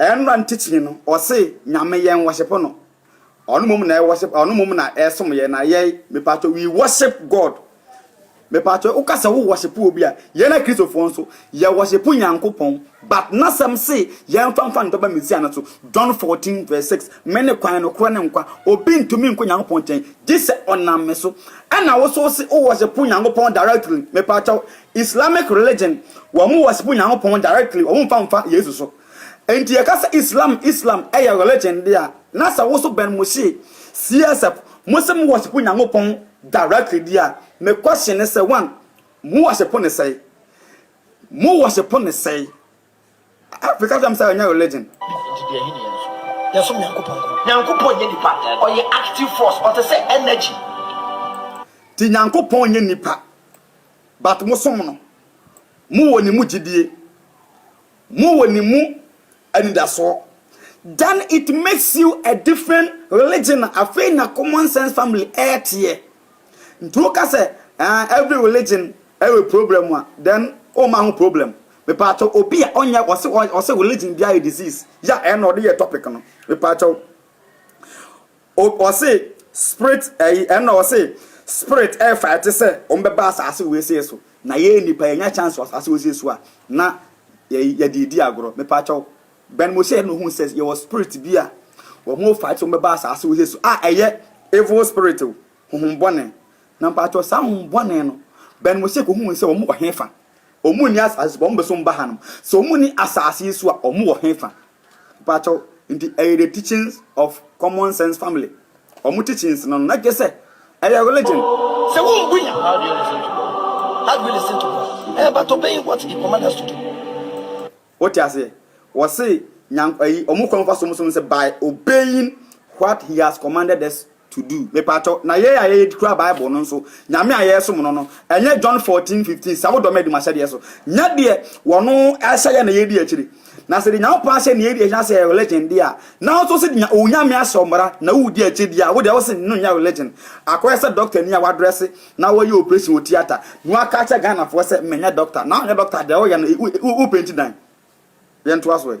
Ɛnra ntikyimi no ɔse nyame yɛn wɔship no ɔno mmom na ɛwɔship ɔno mmom na ɛsom yɛn na yɛn mepatɔ we worship God mepatɔ woka sɛ wo wɔship obi a yɛn akristofoɔ nso yɛ wɔship nyankopɔn but nasɛm se yɛn fa nfa ntoba mesia no so John 14 verse 6 me ne kwan nokorɛ ne nkwa obi ntumi nkɔ nyankopɔn nkyɛn gye sɛ ɔnam me so ɛna wo so se wo wɔship nyankopɔn directly mepatɔ Islamic religion wɔn worship Nyankopɔn directly wɔn mfa mfa Yesu so nti yɛka sɛ Islam Islam ɛyɛ religion de a na sɛ wo so Ben Moshie CSF mo se mo worship Nyankopɔn directly de a me question ne sɛ one mo worship ne sɛe mo worship ne sɛe afei ka kyerɛ me sɛ ɛnyɛ religion. Nti deɛ ɛhe ne yɛn so yɛsom Nyankopɔn ko Nyankopɔn nyɛ nipa ɔyɛ active force ɔte sɛ energy. Nti Nyankopɔn nyɛ nipa But mo som no, mo wɔ ne mu gyidie, mo wɔ ne mu anidasoɔ, then it makes you a different religion, afei na common sense family ɛɛteɛ. Nti wo ka sɛ ah every religion ɛwɔ problem a, then wo mma ho problem. Mepaakyɛw obi a ɔnyɛ ɔse ɔse religion biara yɛ disease, ya ɛna ɔde yɛ topic no, mepaakyɛw. O ɔse spirit ɛyi ɛna ɔse spirit ɛfighte sɛ wɔn bɛba asaase wesee so na yɛn nipa yɛnya chance wɔ asaase wesee so a na yɛyi yɛde edi agorɔ mepakyɛw Ben mo hyɛ no hu sɛ yɛwɔ spirit bi a wɔn fight wɔn bɛba asaase wesee so a ɛyɛ evil spirit o honhom bɔne na mepakyɛw saa honhom bɔne no Ben mo hyɛ ko hu sɛ wɔn wɔ hefa wɔn nni asaase so wɔn beso mba hanom sɛ wɔn nni asaase yi so a wɔn wɔ hefa. Mpakyɛw, nti ɛyɛ the teachings of common sense family wɔn teachings no na gyesɛ ɛyɛ religion. Sɛ wombu Nyame how do you listen to God? How do you listen to God? Eh but obeying what he command us to do. Wote aseɛ? Wɔse Nyank ɛyi wɔn kwan fa so wɔn so no sɛ by obeying what he has commanded us To do, Mepakyɛw, na yɛ a yɛyɛ de kura Bible no nso, Nyame a yɛresom no no, ɛnyɛ John fourteen fifteen, Sɛ wodɔ me a, di m'ahyɛdeɛ so. Nyɛ deɛ wɔn ahyɛ yɛn na yɛredi akyire. Na sɛ deɛ Nyankopɔn ahyɛ na yɛredi akyire anaasɛ ɛyɛ religion deɛ a, na wo nso sɛ deɛ Onyame ahyɛ wo mmara na woredi akyire deɛ a, wo deɛ wose no nyɛ religion. Akɔyɛ sɛ doctor ni a wadrɛse na wayɛ operation wɔ theatre na waka akyerɛ Ghanafoɔ sɛ menyɛ doctor. Na wonyɛ doctor deɛ a, woyɛ no wo penti dan. Yɛntoa so ɛ.